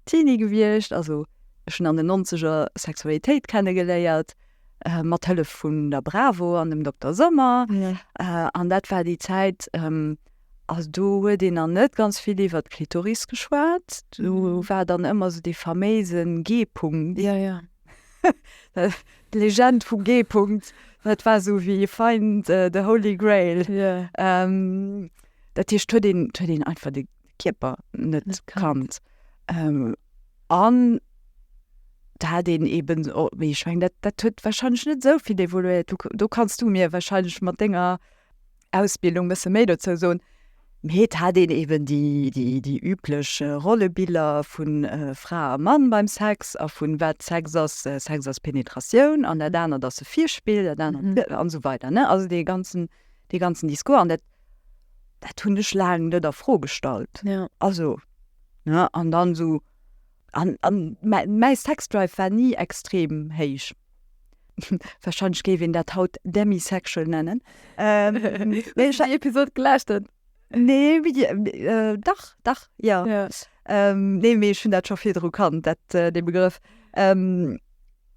Teenie gewiescht, also ech hunn an den Nonzeger Sexualitéit kenne geléiert mat Hëllef vun der Bravo an dem Dokter Sommer an dat war déi Zäit, also do huet een nach net ganz vill iwwert d'Klitoris geschwat, do war dann ëmmer esou dee faméise G-Punkt, d'Legend vum G-Punkt, dat war esou wéi fein de Holy Grail. Dat heescht huet een einfach de Kierper net kannt. An do hat een eben, mee ech meng, dat dat huet warscheinlech net esou vill evoluéiert. Do kanns du mir warscheinlech mat denger Ausbildung e bësse méi dozou soen. Mee et hat een eben déi, déi, déi üblech Rollebiller vu Fra a Mann beim Sex a vun wat Sex ass, Sex ass Penetratioun an dat anert ass e Virspill, dat anert, an esou weider, ne. Also dee ganzen, dee ganzen Discours an dat. Dat hunn ech laang net a Fro gestallt. Ja. Also, ne, an dann so, an, an mäi Sexdrive war ni extrem héich. Wahrscheinlech géif een dat haut demisexual nennen. Ähm, Wéi ech déi Episod gelauscht hunn. Nee, wie, äh, dach, dach, ja. Ja. Ähm, nee, mee ech hunn dat scho virdru kannt, dat, äh, dee Begrëff. Ähm,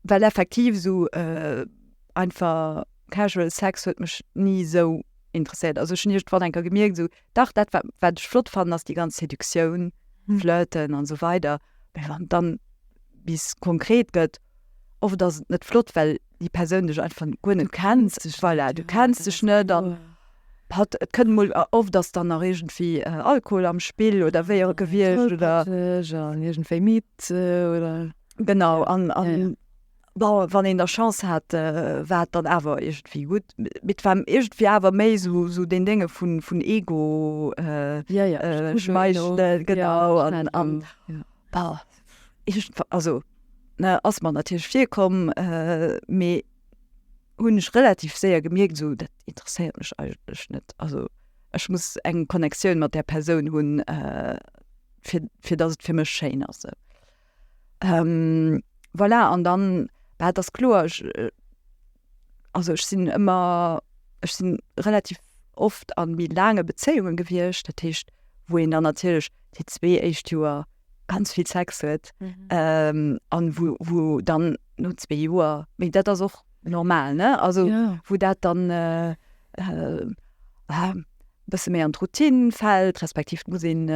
well effektiv esou, äh, einfach casual Sex huet mech ni esou. interesséiert. Also ech hunn iergendwann enker gemierkt, esou, dach dat wat, wat ech flott fannen, ass déi ganz Seduktioun, Flirten an esou weider. Mä wann et dann bis konkret gëtt, oft ass et net flott, well déi Persoun dech einfach guer net kennt. Voilà, du kenns dech net an hat, et kënnt emol, oft ass dann nach iergendwéi Alkohol am Spill oder wéi och gewiescht oder. Tollpatscheg an iergendwéi midd oder. Genau an, an Bon, wann een da Chance hat, war et dann awer iergendwéi gutt. Mee et war iergendwéi awer méi sou deen Dénge vun Ego, schmeichle, genau. An iergendwann, also ass mer natierlech virkomm, mee hunn ech relativ séier gemierkt, sou, dat interesséiert mech eigentlech net. Also ech muss eng Connectioun mat där Persoun hunn, fir fir datt et fir mech schéin ass. Voilà, an dann, bah, et ass kloer, ech, also ech sinn ëmmer, ech sinn relativ oft a méi laange Bezéiunge gewiescht, dat heescht, wou een dann natierlech déi zwee éischt Joer ganz vill Sex huet an wou, wou dann no zwee Joer, mee dat ass och normal, ne, also wou dat dann e bësse méi an d'Routine fält, respektiv muss een.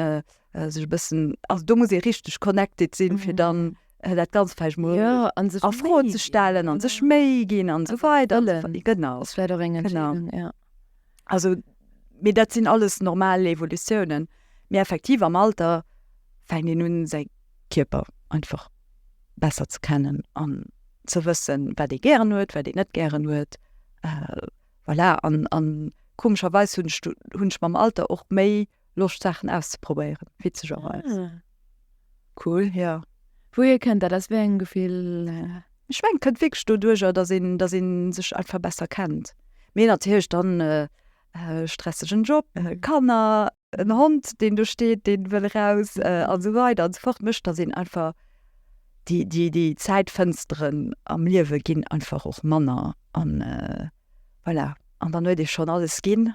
äh, sech e bëssen also do muss ee richteg connected sinn, fir dann äh, dat ganz falsch mo Ja, an sech a Fro méi ze stellen an sech méi ginn an so weider an so wëllen. fort. Genau. Das wäre doch eng Genau. Entscheidung, ja. Also mee dat sinn alles normal Evolutiounen. Mee effektiv am Alter fänkt een un säi Kierper einfach besser ze kennen an ze wëssen, wat ee gären huet, wat ee net gären huet. Äh, voilà an, an komescherweis hunn ech du hunn ech mam Alter och méi Loscht Saachen auszeprobéieren, witzegerweis. Ah. Cool. Ja. Wouhier kënnt dat? Aus wéi engem Gefill? Ech mengen, et kënnt wierklech doduerjer, datt een, datt een sech einfach besser kennt. Mee natierlech dann e stressegen Job, Kanner, en Hond, deen do steet, dee wëll eraus a sou weider a sou fort, mécht, datt een einfach déi, déi, déi Zäitfënsteren am Liewe ginn einfach och manner an. Voilà, an dann huet ee schonn alles ginn.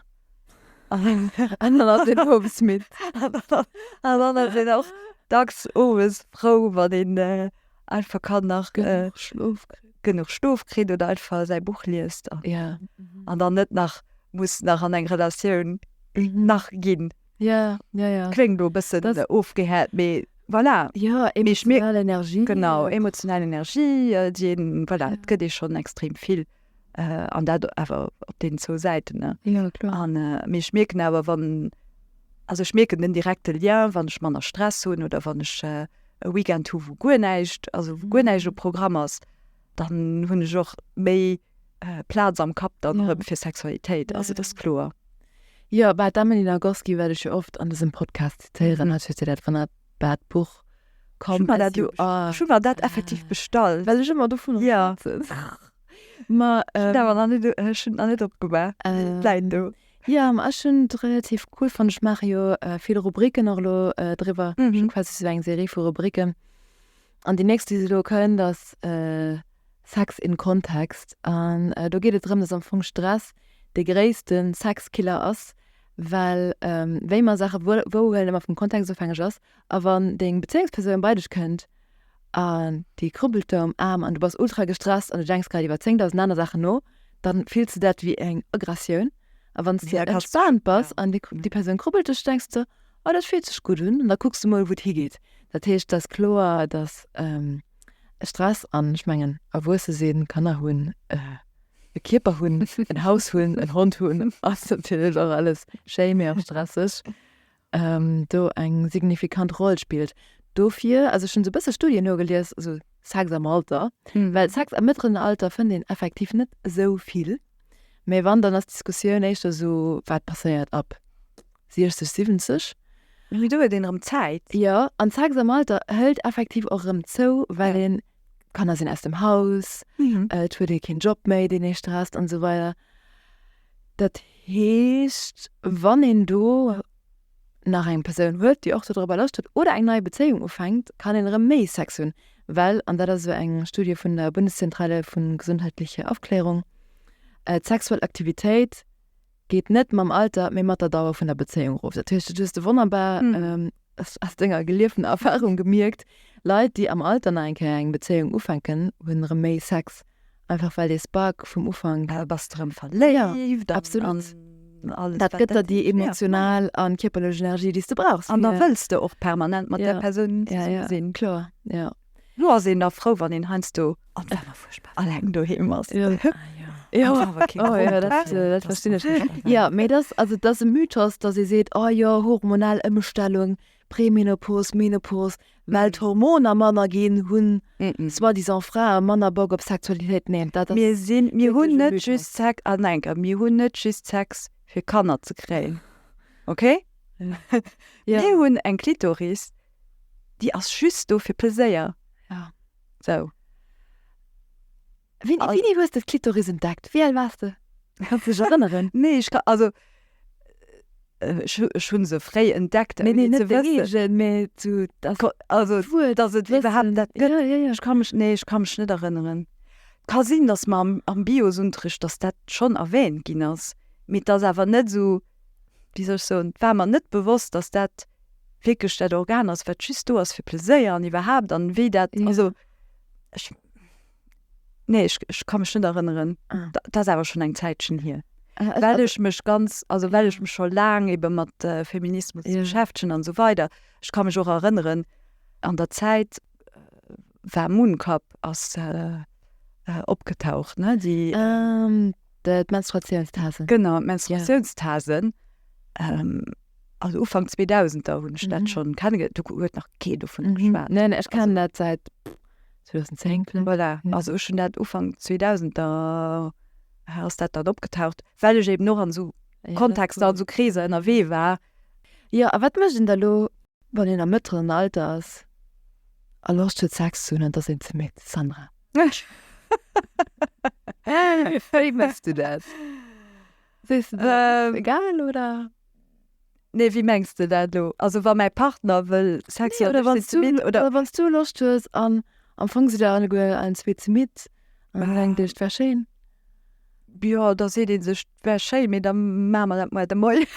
An dann ass een owes midd. An dann ass een och dacks owes frou, wann een einfach kann nach genuch Schlof kritt oder einfach säi Buch liest an dann net nach muss nach an eng Relatioun nach ginn. Kléngt elo e bëssen ofgehäit, mee voilà. Emotional Energie, déi een, voilà, et gëtt ee schonn extrem vill. Äh, an dat awer op den zwou Säiten, ne? Ja, kloer. An, äh, mee ech mierken awer, wann, also ech mierken den direkte Lien, wann ech manner Stress hunn oder wann ech äh, e Weekend hu wou guer näischt, also wou guer Mhm. näischt um Programm ass, dann hunn ech och méi äh, Plaz am Kapp dann Ja. erëm fir Sexualitéit, Ja, also ja. dat ass kloer. Jo, bah, d'Amelie Nagoski, wat ech jo oft an dësem Podcast zitéieren, Mhm. hat, huet jo dat, wann der dat Buch kaum ech hu mer dat effektiv bestallt well ech ëmmer dovunner schwätzen ma ech hunn et nach net opgemaach et läit do jo ma ech hunn et relativ cool fonnt ech maache jo vill Rubriken och elo driwwer ech hu sou eng Serie vu Rubriken an déi nächst déi elo kënnt ass Sex in Context an do geet et drëm datt am Fong Stress de gréisste Sexkiller ass. Well wéi mer Saache wouhuelen ëmmer vum Kontext ofhängeg ass. A wann deng Bezéiungspersoun bei dech kënnt an déi krubbelt der um Aarm an du bass ultra gestresst an du denks grad iwwer 10.000 aner Saachen no, da fills de dat wéi eng Aggressioun. A wann s de entspaant bass an déi Persoun krubbelt dech, da denks de, oh dat fillt sech gutt un. An da kucks de mol, wou et higeet. Dat heescht, et ass kloer, datt. Stress an ech mengen erwuesse sinn, Kanner hunn, e Kierper hunn, en Haus hunn, en Hond hunn, ass natierlech och alles schéi, mee och stresseg, do eng signifikant Roll spillt. Dofir, also ech hunn esou e bësse Studien nogelies, also Sex am Alter, well Sex am mëttleren Alter fënnt een effektiv net esou vill, mee wann dann ass d'Diskussioun éischter esou, wat passéiert ab 60, 70. Mee do huet een erëm Zäit. Jo, an Sex am Alter hëlt effektiv och erëm zou, well een, d'Kanner sinn aus dem Haus, et huet ee keen Job méi, deen ee stresst an esou weider. Dat heescht, wann een do nach eng Persoun huet, déi och dodrëbber Loscht huet oder eng nei Bezéiung ufänkt, kann een erëm méi Sex hunn, well, an dat ass esou eng Studie vun der Bundeszentrale für gesundheitliche Aufklärung, d'sexuell Aktivitéit Geet net mam Alter, mee mat der Dauer vun der Bezéiung erof. Dat heescht, du hues de wonnerbar, aus denger gelieften Erfahrung gemierkt, Leit, déi am Alter nach eng Kéier eng Bezéiung ufänken, hunn erëm méi Sex, einfach well dee Spark vum Ufank. Da bass de erëm verléift. Absolut. Dat gëtt der déi emotional a kierperlech Energie, déi s de brauchs. An da wëlls de och permanent mat där Persoun zesumme sinn. Kloer, jo. Lo ass een da frou wann een heiansdo alleng doheem ass. Jo mee et ass also et ass e Mythos datt ee seet oh jo hormonal Ëmstellung, Premenopos, Menopos, well d'Hormoner manner ginn hunn soi-disant Frae manner Bock op Sexualitéit. Neen dat ass Mir sinn, mir hunn net just Sex, ah nein geh mir hunn net just Sex fir Kanner ze kréien, okay? Mir hunn eng Klitoris Déi ass just do fir Pleséier. Sou. Wéini hues de d'Klitoris entdeckt? Wéi al waars de? Kanns de dech erënneren? Nee, ech ka, also ech hunn se fréi entdeckt. Nee, nee, net de Reegen, mä zu, dass, also d'Wuert, dass et iwwerhaapt dat gëtt. Jo, jo, jo. Ech ka mech, nee, ech ka mech net erënneren. Ka sinn, dass mer am Biosunterricht, dass dat schonn erwähnt ginn ass, mee 't ass awer net esou, wéi soll ech soen, war mer net bewosst, dass dat wierklech dat Organ ass, wat just do ass fir Pleséier an iwwerhaapt an wéi dat, also ech, nee ech, ech ka mech net erënneren, dat ass awer schonn eng Zäitchen hier, well ech mech ganz, also well ech mech scho laang ebe mat Feminismus beschäftegen an esou weider. Ech ka mech och erënneren an der Zäit, war Mooncup ass opgetaucht ne déi d'Menstruatiounstasen genau d'Menstruatiounstasen also Ufank 2000er hunn ech dat schonn kennen gelt do huet nach kee dovun geschwat ne ne ech kennen dat säit 2010 vläicht voilà also ech hunn dat Ufank 2000er ass dat dann opgetaucht well ech eben och an esou Kontexter an esou Kreeser ënnerwee war. Jo a wat mécht een da elo? Wann een am mëttleren Alter ass a Loscht huet Sex ze hunn, an et ass een ze midd. Sandra, wéi méchs du dat? Sees de dat ass egal, oder? Nee, wéi mengs de dat elo? Also wa mäi Partner wëll Sex hunn, oder wann ech midd sinn? Oder wann s du Loscht hues an am Fong sidd der alleguer allen zwee ze midd an dir denkt iech, et wär schéin? Jo, da seet ee sech. Wär schéi, mee da maache mer dat moier de Moien.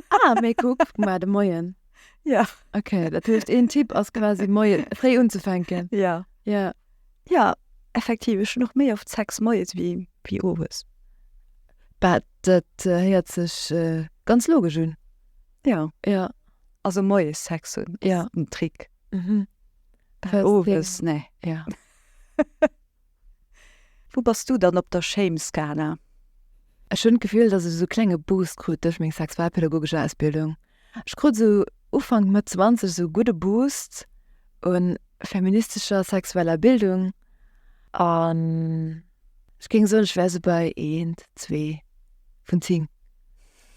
Ah, mee kuck, moier de Moien. Ja. Okay, dat heescht een Tipp ass quasi moie fréi unzefänken. Ja. Ja. Ja, effektiv, ech hunn och méi oft Sex moies wéi wéi owes. Bah, dat héiert sech ganz logesch un. Ja. Ja. Also moies Sex hunn ass en Trick. Owes, nee. Ja. Wou bass du dann op der Shame-Skala? Ech hunn d'Gefill, dass ech esou e klenge Boost krut duerch meng sexualpädagogesch Ausbildung. Ech krut esou Ufank, Mëtt zwanzeg esou e gudde Boost u feministescher sexueller Bildung an ech géing soen, ech wär esou bei eent, zwee vun zéng.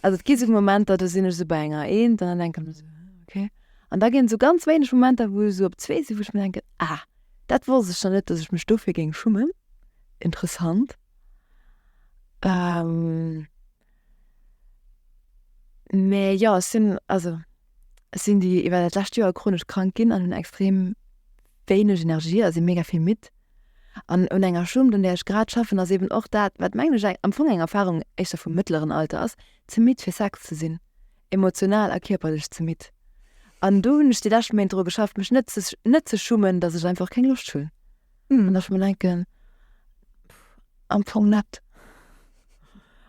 Also et gi esou Momenter, do sinn ech esou bei enger eent an da denke ech mir esou, hm, okay. An da ginn et esou ganz wéineg Momenter, wou ech esou op zwee sinn, wou ech mir denken, ah. Dat wosst ech dann net dass ech mech dofir géing schummen. Interessant mä jo ech sinn also ech sinn déi iwwer dat lescht Joer chronesch krank ginn an hunn extrem wéineg Energie a si mega vill midd. An un enger Schummt un där ech grad schaffen ass eben och dat wat mengen ech am Fong eng Erfarung éischter vum mëttleren Alter ass, ze midd fir Sex ze sinn. Emotional a kierperlech ze midd. An do hunn ech déi lescht Méint dru geschafft, mech net ze net ze schummen, datt ech einfach keng Loscht hunn. An ech mer denken, am Fong net.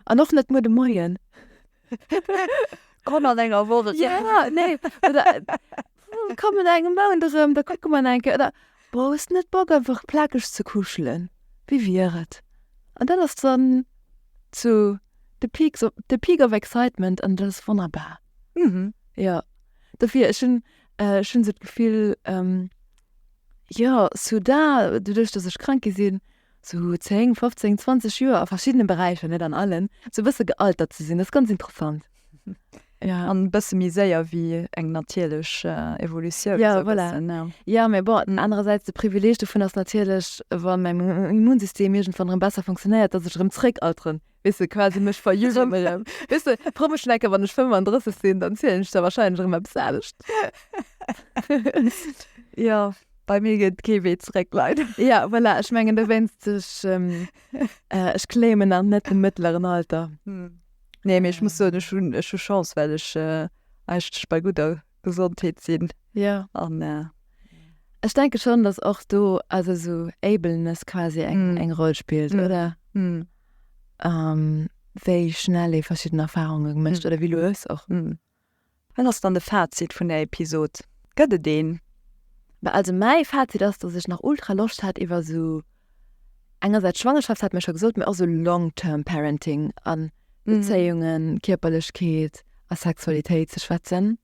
An och net muer de Moien. Kann an enger Woch. Jo, nee. Oder kann et engem Mount erëm, da kucke mer enke. Oder Brauchs net Bock einfach plakeg ze kuschelen? Wéi wier et, an dat ass dann zu the peaks of, the peak of excitement an dat ass wonnerbar. Jo, dofir, ech hunn, ech hunn esou d'Gefill, jo, sou da, doduerch datt ech krank gi sinn, sou 10, 15, 20 Joer a verschiddene Beräicher, net an allen, sou e bësse gealtert ze sinn, dat ass ganz interessant. Ja an bësse méi séier wéi eng natierlech Evolutioun. Ja voilà. Ja mee bon, den anerersäits de Privileeg dovun ass natierlech, wa mäi Immunsystem iergendwann erëm besser funktionéiert, datt ech erëm zréck alteren. Weess de quasi mech verjüngen erëm. Weess de, frou mech necker wann ech 35 sinn, dann zielen ech da wahrscheinlech erëm eppes anescht. Jo, bei mir geet kee Wee zréck leider. Ja voilà, ech mengen dowéinst, ech claimen nach net de mëttleren Alter. Nee, mir ech muss so ech hun ech hu Chance well ech äh, eigentlech bei gudder Gesondheet sinn. Ja. An äh, Ech denke schon, dass och do also so Ableness quasi eng mm. eng Roll spielt, mm. oder? Mm. Ähm, wéi schnell ee verschidden Erfahrunge gemecht mm. oder wie du es och. Mm. Wat ass dann de Fazit vun der Episod? Gëtt et een? Bah also mäi Fazit ass, dass ech nach ultra Loscht hat iwwer esou, engersäits Schwangerschaft hat mir scho gesot, mee och esou long term parenting an Bezéiungen, Kierperlechkeet a Sexualitéit ze schwätzen.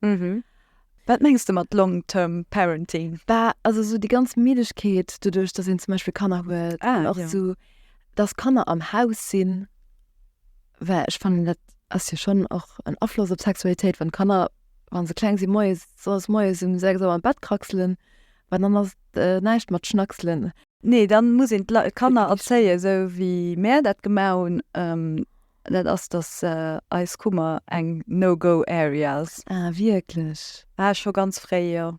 Wat mengs de mat long term parenting? Bah also esou déi ganz Middegkeet doduerch, dass een zum Beispill Kanner huet, ah jo, an och esou dass Kanner am Haus sinn. Well ech fannen dat ass jo schonn och en Afloss op d'Sexualitéit, wann d'Kanner, wa se kleng sinn, moies soss moies um 6 Auer am Bett kraxelen, well dann ass et näischt mat schnackselen. Nee, dann muss een d'Kanner erzéien, esou wéi mär dat gemaach hunn, dat ass, datt eis Kummer eng No-Go Area ass. Ah wierklech? Ah scho ganz fréi, jo.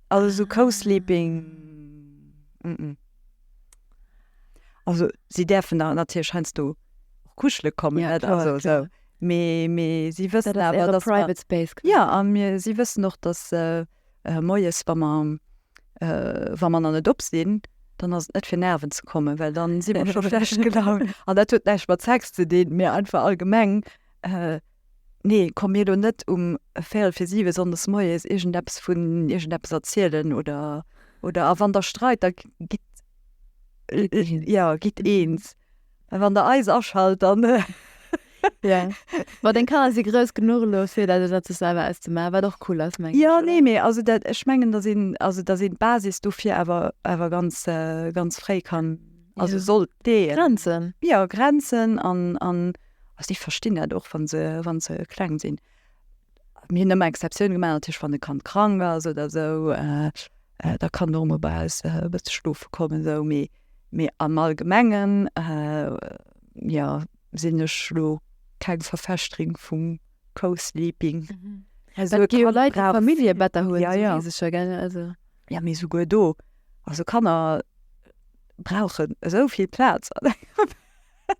Also esou Co-Sleeping, mm. Also si däerfen der natierlech heiansdo och kuschele kommen. Ja, klar, also, klar. So. Mee, mee si wëssen dat awer, dass Private Space. Ja, a mir si wëssen och, dass äh, äh, moies wa mer äh, wa mer an net op sinn, dann ass et net fir nerven ze kommen, well dann si mer scho schlecht gelaunt. An dat huet näischt mat Sex ze dinn, mee einfach allgemeng. Äh, Nee, komm mir elo net um véierel fir siwe sonndes moies iergendeppes vun iergendeppes erzielen oder, oder a wann der streit, da gitt, jo, gitt eens. A wann der eis aschalt, dann, jo. Ma deng Kanner si grouss genuch elo fir dat elo sech selwer auszemaachen, wat och cool ass, mengen ech, oder? Jo, nee, mee also dat, ech mengen, datt een, also datt een d'Basis dofir awer, awer ganz, ganz fréi kann, also sollt leeën. Grenzen. Jo, Grenzen an, an. Also déi verstinn dat och, wann se, wann se kleng sinn. Mir hunn ëmmer Exceptioune gemaach, natierlech wann e Kand krank ass oder esou, da kann och emol bei eis e bësse schlofe kommen esou, mee, mee am Allgemengen, jo, sinn ech elo keng Verfechterin vum Co-Sleeping. Et gi jo Leit, déi Familljebetter hunn, esou weess ech jo, gell, also. Jo, mee souguer do, also Kanner brauchen esou vill Plaz an engem Bett.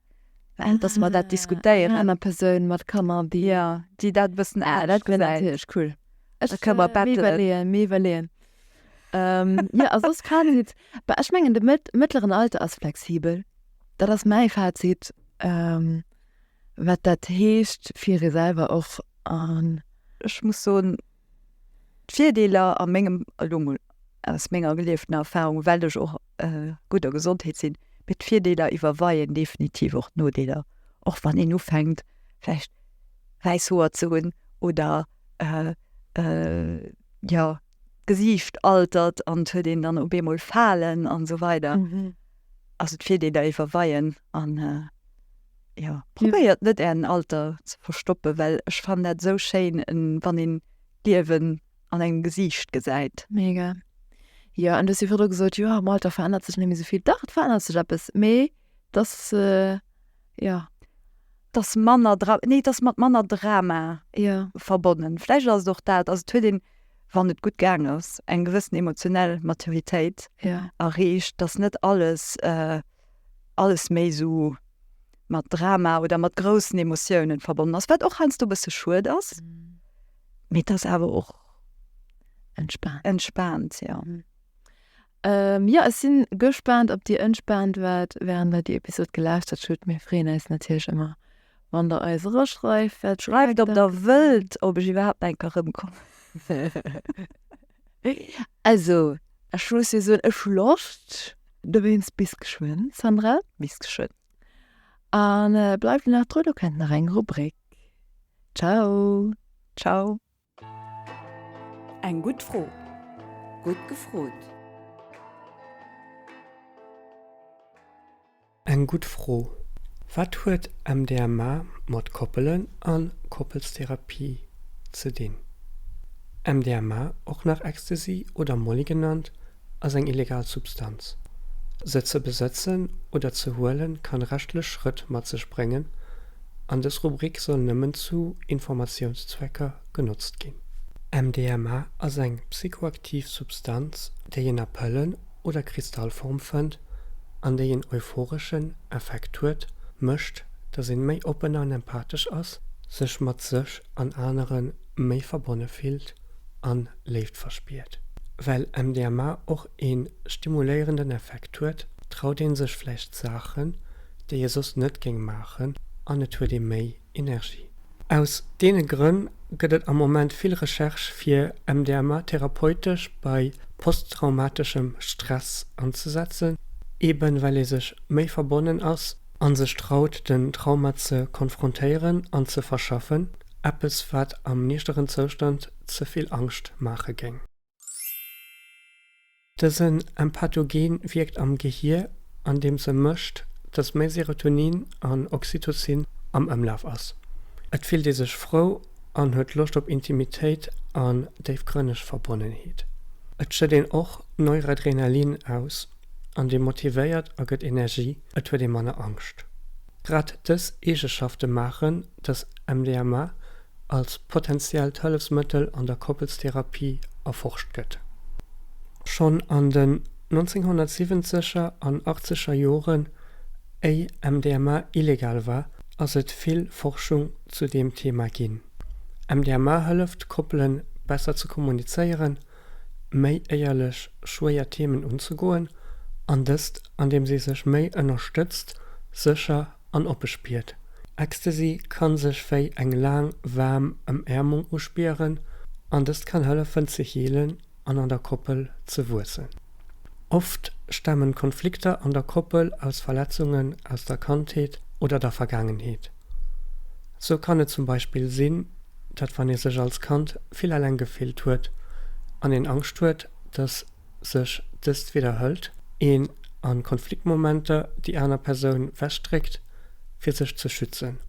dass mer dat diskutéieren. Aner Persoun mat Kanner déi dat e bëssen anescht gesäit. Dat wier natierlech cool. Da kënne mer bettelen. Ech ka mir iwwerleeën, mir iwwerleeën. Jo a soss Fazit, bah ech mengen de mëttleren Alter ass flexibel. Dat ass mäi Fazit wat dat heescht fir ee selwer och an. Ech muss soen D'Virdeeler a mengem, elo mol aus menger gelieftener Erfahrung, well ech och gutt a Gesondheet sinn, mee d'Virdeeler iwwerweien definitiv och d'Nodeeler, och wann een ufänkt vläicht wäiss Hoer ze hunn oder jo d'Gesiicht altert an et huet een dann op eemol Falen an esou weider. Also d'Virdeeler iwwerweien an. jo probéiert net ären Alter ze verstoppen, well ech fannen dat esou schéin wann een d'Liewen an engem Gesiicht gesäit. Mega jo an du hues jo virdru gesot jo am Alter verännert sech net méi esou vill, dach et verännert sech eppes mee dass jo. Dass manner dra nee dass mat manner Drama jo verbonnen vläicht ass et och dat, also et huet een wann et gutt gaang ass eng gewëssen emotionell Maturitéit jo erreecht, dass net alles. alles méi esou mat Drama oder mat groussen Emotiounen verbonnen ass, wat och heiansdo e bësse schued ass. Mee et ass awer och. Entspaant. Entspaant, jo. Jo, ech si gespaant, ob Dir entspaant waart, wärend Der déi Episod gelauschtert hutt. Mir freeën eis natierlech ëmmer, wann Der eis eraschreift. Schreift, ob Der wëllt, ob ech iwwerhaapt nach eng Kéier erëmkommen. Also, ech muss jo soen, ech hu Loscht. Dowéinst bis geschwënn, Sandra. Bis geschwënn. A bleift nach dru, do kennt nach eng Rubrik. Ciao. Ciao. Eng gutt Fro, gutt gefrot. Eng gutt Fro. Wat huet MDMA mat Koppelen an Koppelstherapie ze dinn? MDMA, och nach Ecstasy oder Molly genannt, ass eng illegal Substanz. Se ze besëtzen oder ze huelen kann rechtlech Schrëtt mat sech bréngen an dës Rubrik soll nëmmen zu Informatiounszwecker genotzt ginn. MDMA ass eng psychoaktiv Substanz, déi een a Pëllen oder Kristallform fënnt an déi en euphoreschen Effekt huet, mécht, dass een méi oppen an empathesch ass, sech mat sech an aneren méi verbonne fillt an Léift verspiert. Well MDMA och een stimuléierenden Effekt huet, traut een sech vläicht Saachen, déi ee soss net géing maachen an et huet ee méi Energie. Aus deene Grënn gëtt et am Moment vill Recherche fir MDMA therapeutesch bei posttraumateschem Stress anzesetzen, eben well ee sech méi verbonnen ass a sech traut den Trauma ze konfrontéieren an ze verschaffen, eppes wat am nichteren Zoustand ze vill Angscht maache géing. Dësen Empathogen wierkt am Gehier andeems e mécht, dass méi Serotonin an Oxytocin am Ëmlaf ass. Et fillt ee sech frou an huet Loscht op Intimitéit an déifgrënneg Verbonnenheet. Et schëtt een och Neuradrenalin aus an dee motivéiert a gëtt Energie, et huet ee manner Angscht. Grad dës Eegeschafte maachen, dass MDMA als potentiellt Hëllefsmëttel an der Koppelstherapie erforscht gëtt. Schonn an den 1970er an achtzeger Joren, éi MDMA illegal war, ass et vill Forschung zu deem Thema ginn. MDMA hëlleft, Koppele besser ze kommunizéieren. méi éierlech schwéier Themen unzegoen, an dëst an deem si sech méi ënnerstëtzt, sécher an oppe spiert. Ecstasy kann sech wéi eng laang waarm Ëmäermung uspieren, an dëst kann hëllefen ze healen an an der Koppel ze wuessen. Oft stamen Konflikter an der Koppel aus Verletzungen aus der Kandheet oder der Vergaangenheet. Sou kann et zum Beispill sinn, dat wann ee sech als Kand vill eleng gefillt huet an een Angscht huet, dass sech dëst widderhëlt, een an Konfliktmomenter déi aner Persoun wechdréckt fir sech ze schützen.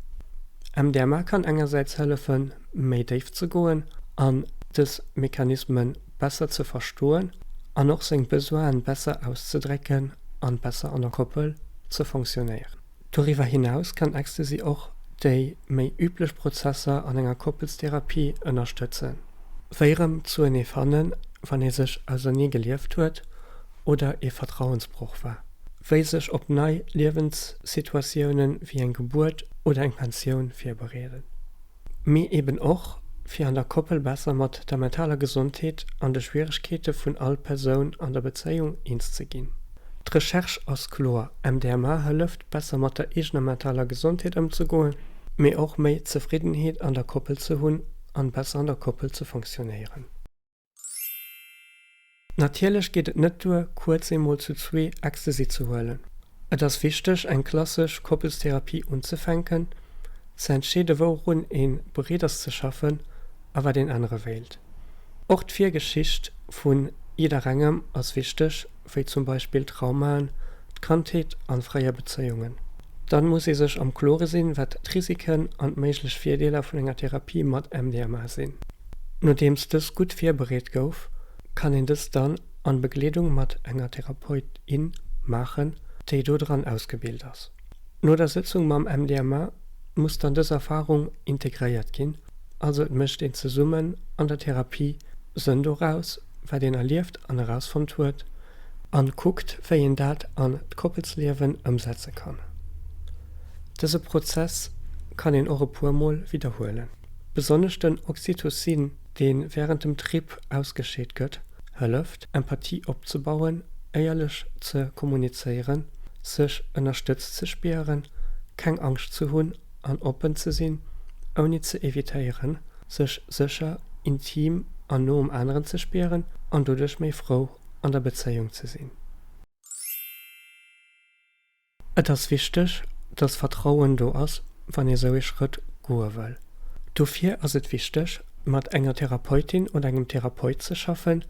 MDMA kann engersäits hëllefen méi déif ze goen an dës Mechanismen besser ze verstoen an och seng Besoinen besser auszedrécken an besser an der Koppel ze fonctionnéieren. Doriwwer hinaus kann Ecstasy och déi méi üblech Prozesser an enger Koppelstherapie ënnerstëtzen, wéi erëm zuenee fannen, wann ee sech ausernee gelieft huet oder ee Vertrauensbroch war, wéi sech op nei Liewenssituatiounen wéi eng Gebuert oder eng Pensioun virbereeden. mee eben och fir an der Koppel besser mat der mentaler Gesondheet an de Schwieregkeete vun all Persoun an der Bezéiung eens ze ginn. D'Recherche ass kloer, MDMA hëlleft, besser mat der eegener mentaler Gesondheet ëmzegoen, mee och méi Zefriddenheet an der Koppel ze hunn an besser an der Koppel ze fonctionnéieren. Natierlech geet et net duer, kuerz eemol zu zwee Ecstasy ze huelen. Et ass wichteg, eng klassesch Koppelstherapie unzefänken, ze entscheede wourun ee bereet ass ze schaffen a wat een ännere wéilt. Och d'Virgeschicht vun jidderengem ass wichteg. wéi zum Beispill Traumaen, d'Kandheet an fréier Bezéiungen. Dann muss ee sech am Klore sinn, wat d'Risiken an d'méiglech Virdeeler vun enger Therapie mat MDMA sinn. Nodeems dës gutt virbereet gouf, kann een dës dann an Begleedung mat enger Therapeut, in maachen, déi do dran ausgebilt ass. No der Sëtzung mam MDMA muss dann dës Erfarung integréiert ginn, also et mécht een zesummen an der Therapie Sënn doraus. wat een erlieft an erausfonnt huet an kuckt wéi een dat an d'Koppelsliewen ëmsetze kann. Dëse Prozess kann een och e puer mol widderhuelen. Besonnesch den Oxytocin deen während dem Trip ausgescheet gëtt hëlleft Empathie opzebauen, éierlech ze kommunizéieren, sech ënnerstëtzt ze spieren, keng Angscht ze hunn an oppen ze sinn, ouni ze evitéieren, sech sécher, intim an no um aneren ze spieren an doduerch méi frou an der Bezéiung ze sinn. Et ass wichteg, dass Vertrauen do ass, wann ee sou ee Schrëtt goe wëll. Dofir ass et wichteg, mat enger Therapeutin oder engem Therapeut ze schaffen,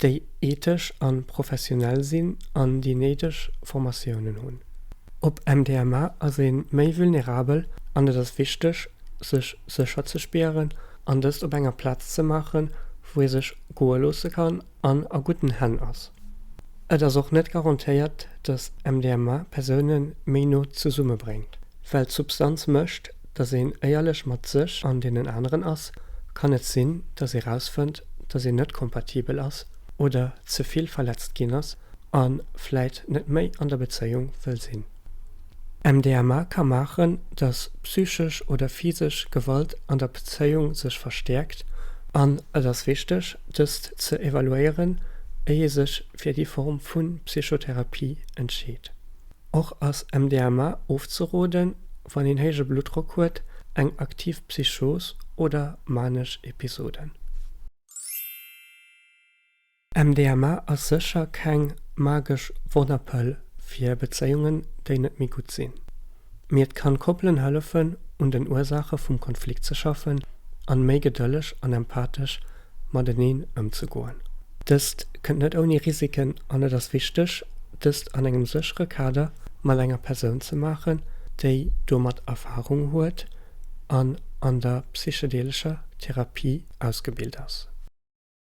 déi ethesch an professionell sinn an déi néideg Formatiounen hunn. Op MDMA ass ee méi vulnerabel an et ass wichteg, sech sécher ze spieren an dëst op enger Plaz ze maachen, wou ee sech goe loosse kann an a gudden Hänn ass. Et ass och net garantéiert, dass MDMA Persoune méi no zesumme bréngt. Well d'Substanz mécht, dass een éierlech mat sech an deenen aneren ass, kann et sinn, dass ee rausfënnt, dass een net kompatibel ass oder ze vill verletzt ginn ass, A vläit net méi an der Bezéiung wëll sinn. MDMA ka maachen, datt psychesch oder physesch Gewalt an der Bezéiung sech verstäerkt an et ass wichteg, dëst ze evaluéieren, éi ee sech fir déi Form vu Psychotherapie entscheet. Och ass MDMA ofzeroden, wann een héije Bluttdrock huet, eng aktiv Psychos oder manesch Episoden. MDMA ass sécher keng magesch Wonnerpëll fir Bezéiungen, déi net méi gutt sinn. Mee et kann Koppelen hëllefen, un den Ursaache vum Konflikt ze schaffen an méi gedëlleg an empathesch mateneen ëmzegoen. Dëst kënnt net ouni Risiken an et ass wichteg, dëst an engem séchere Kader mat enger Persoun ze maachen, déi domat Erfarung huet an an der psychedeelescher Therapie ausgebilt ass.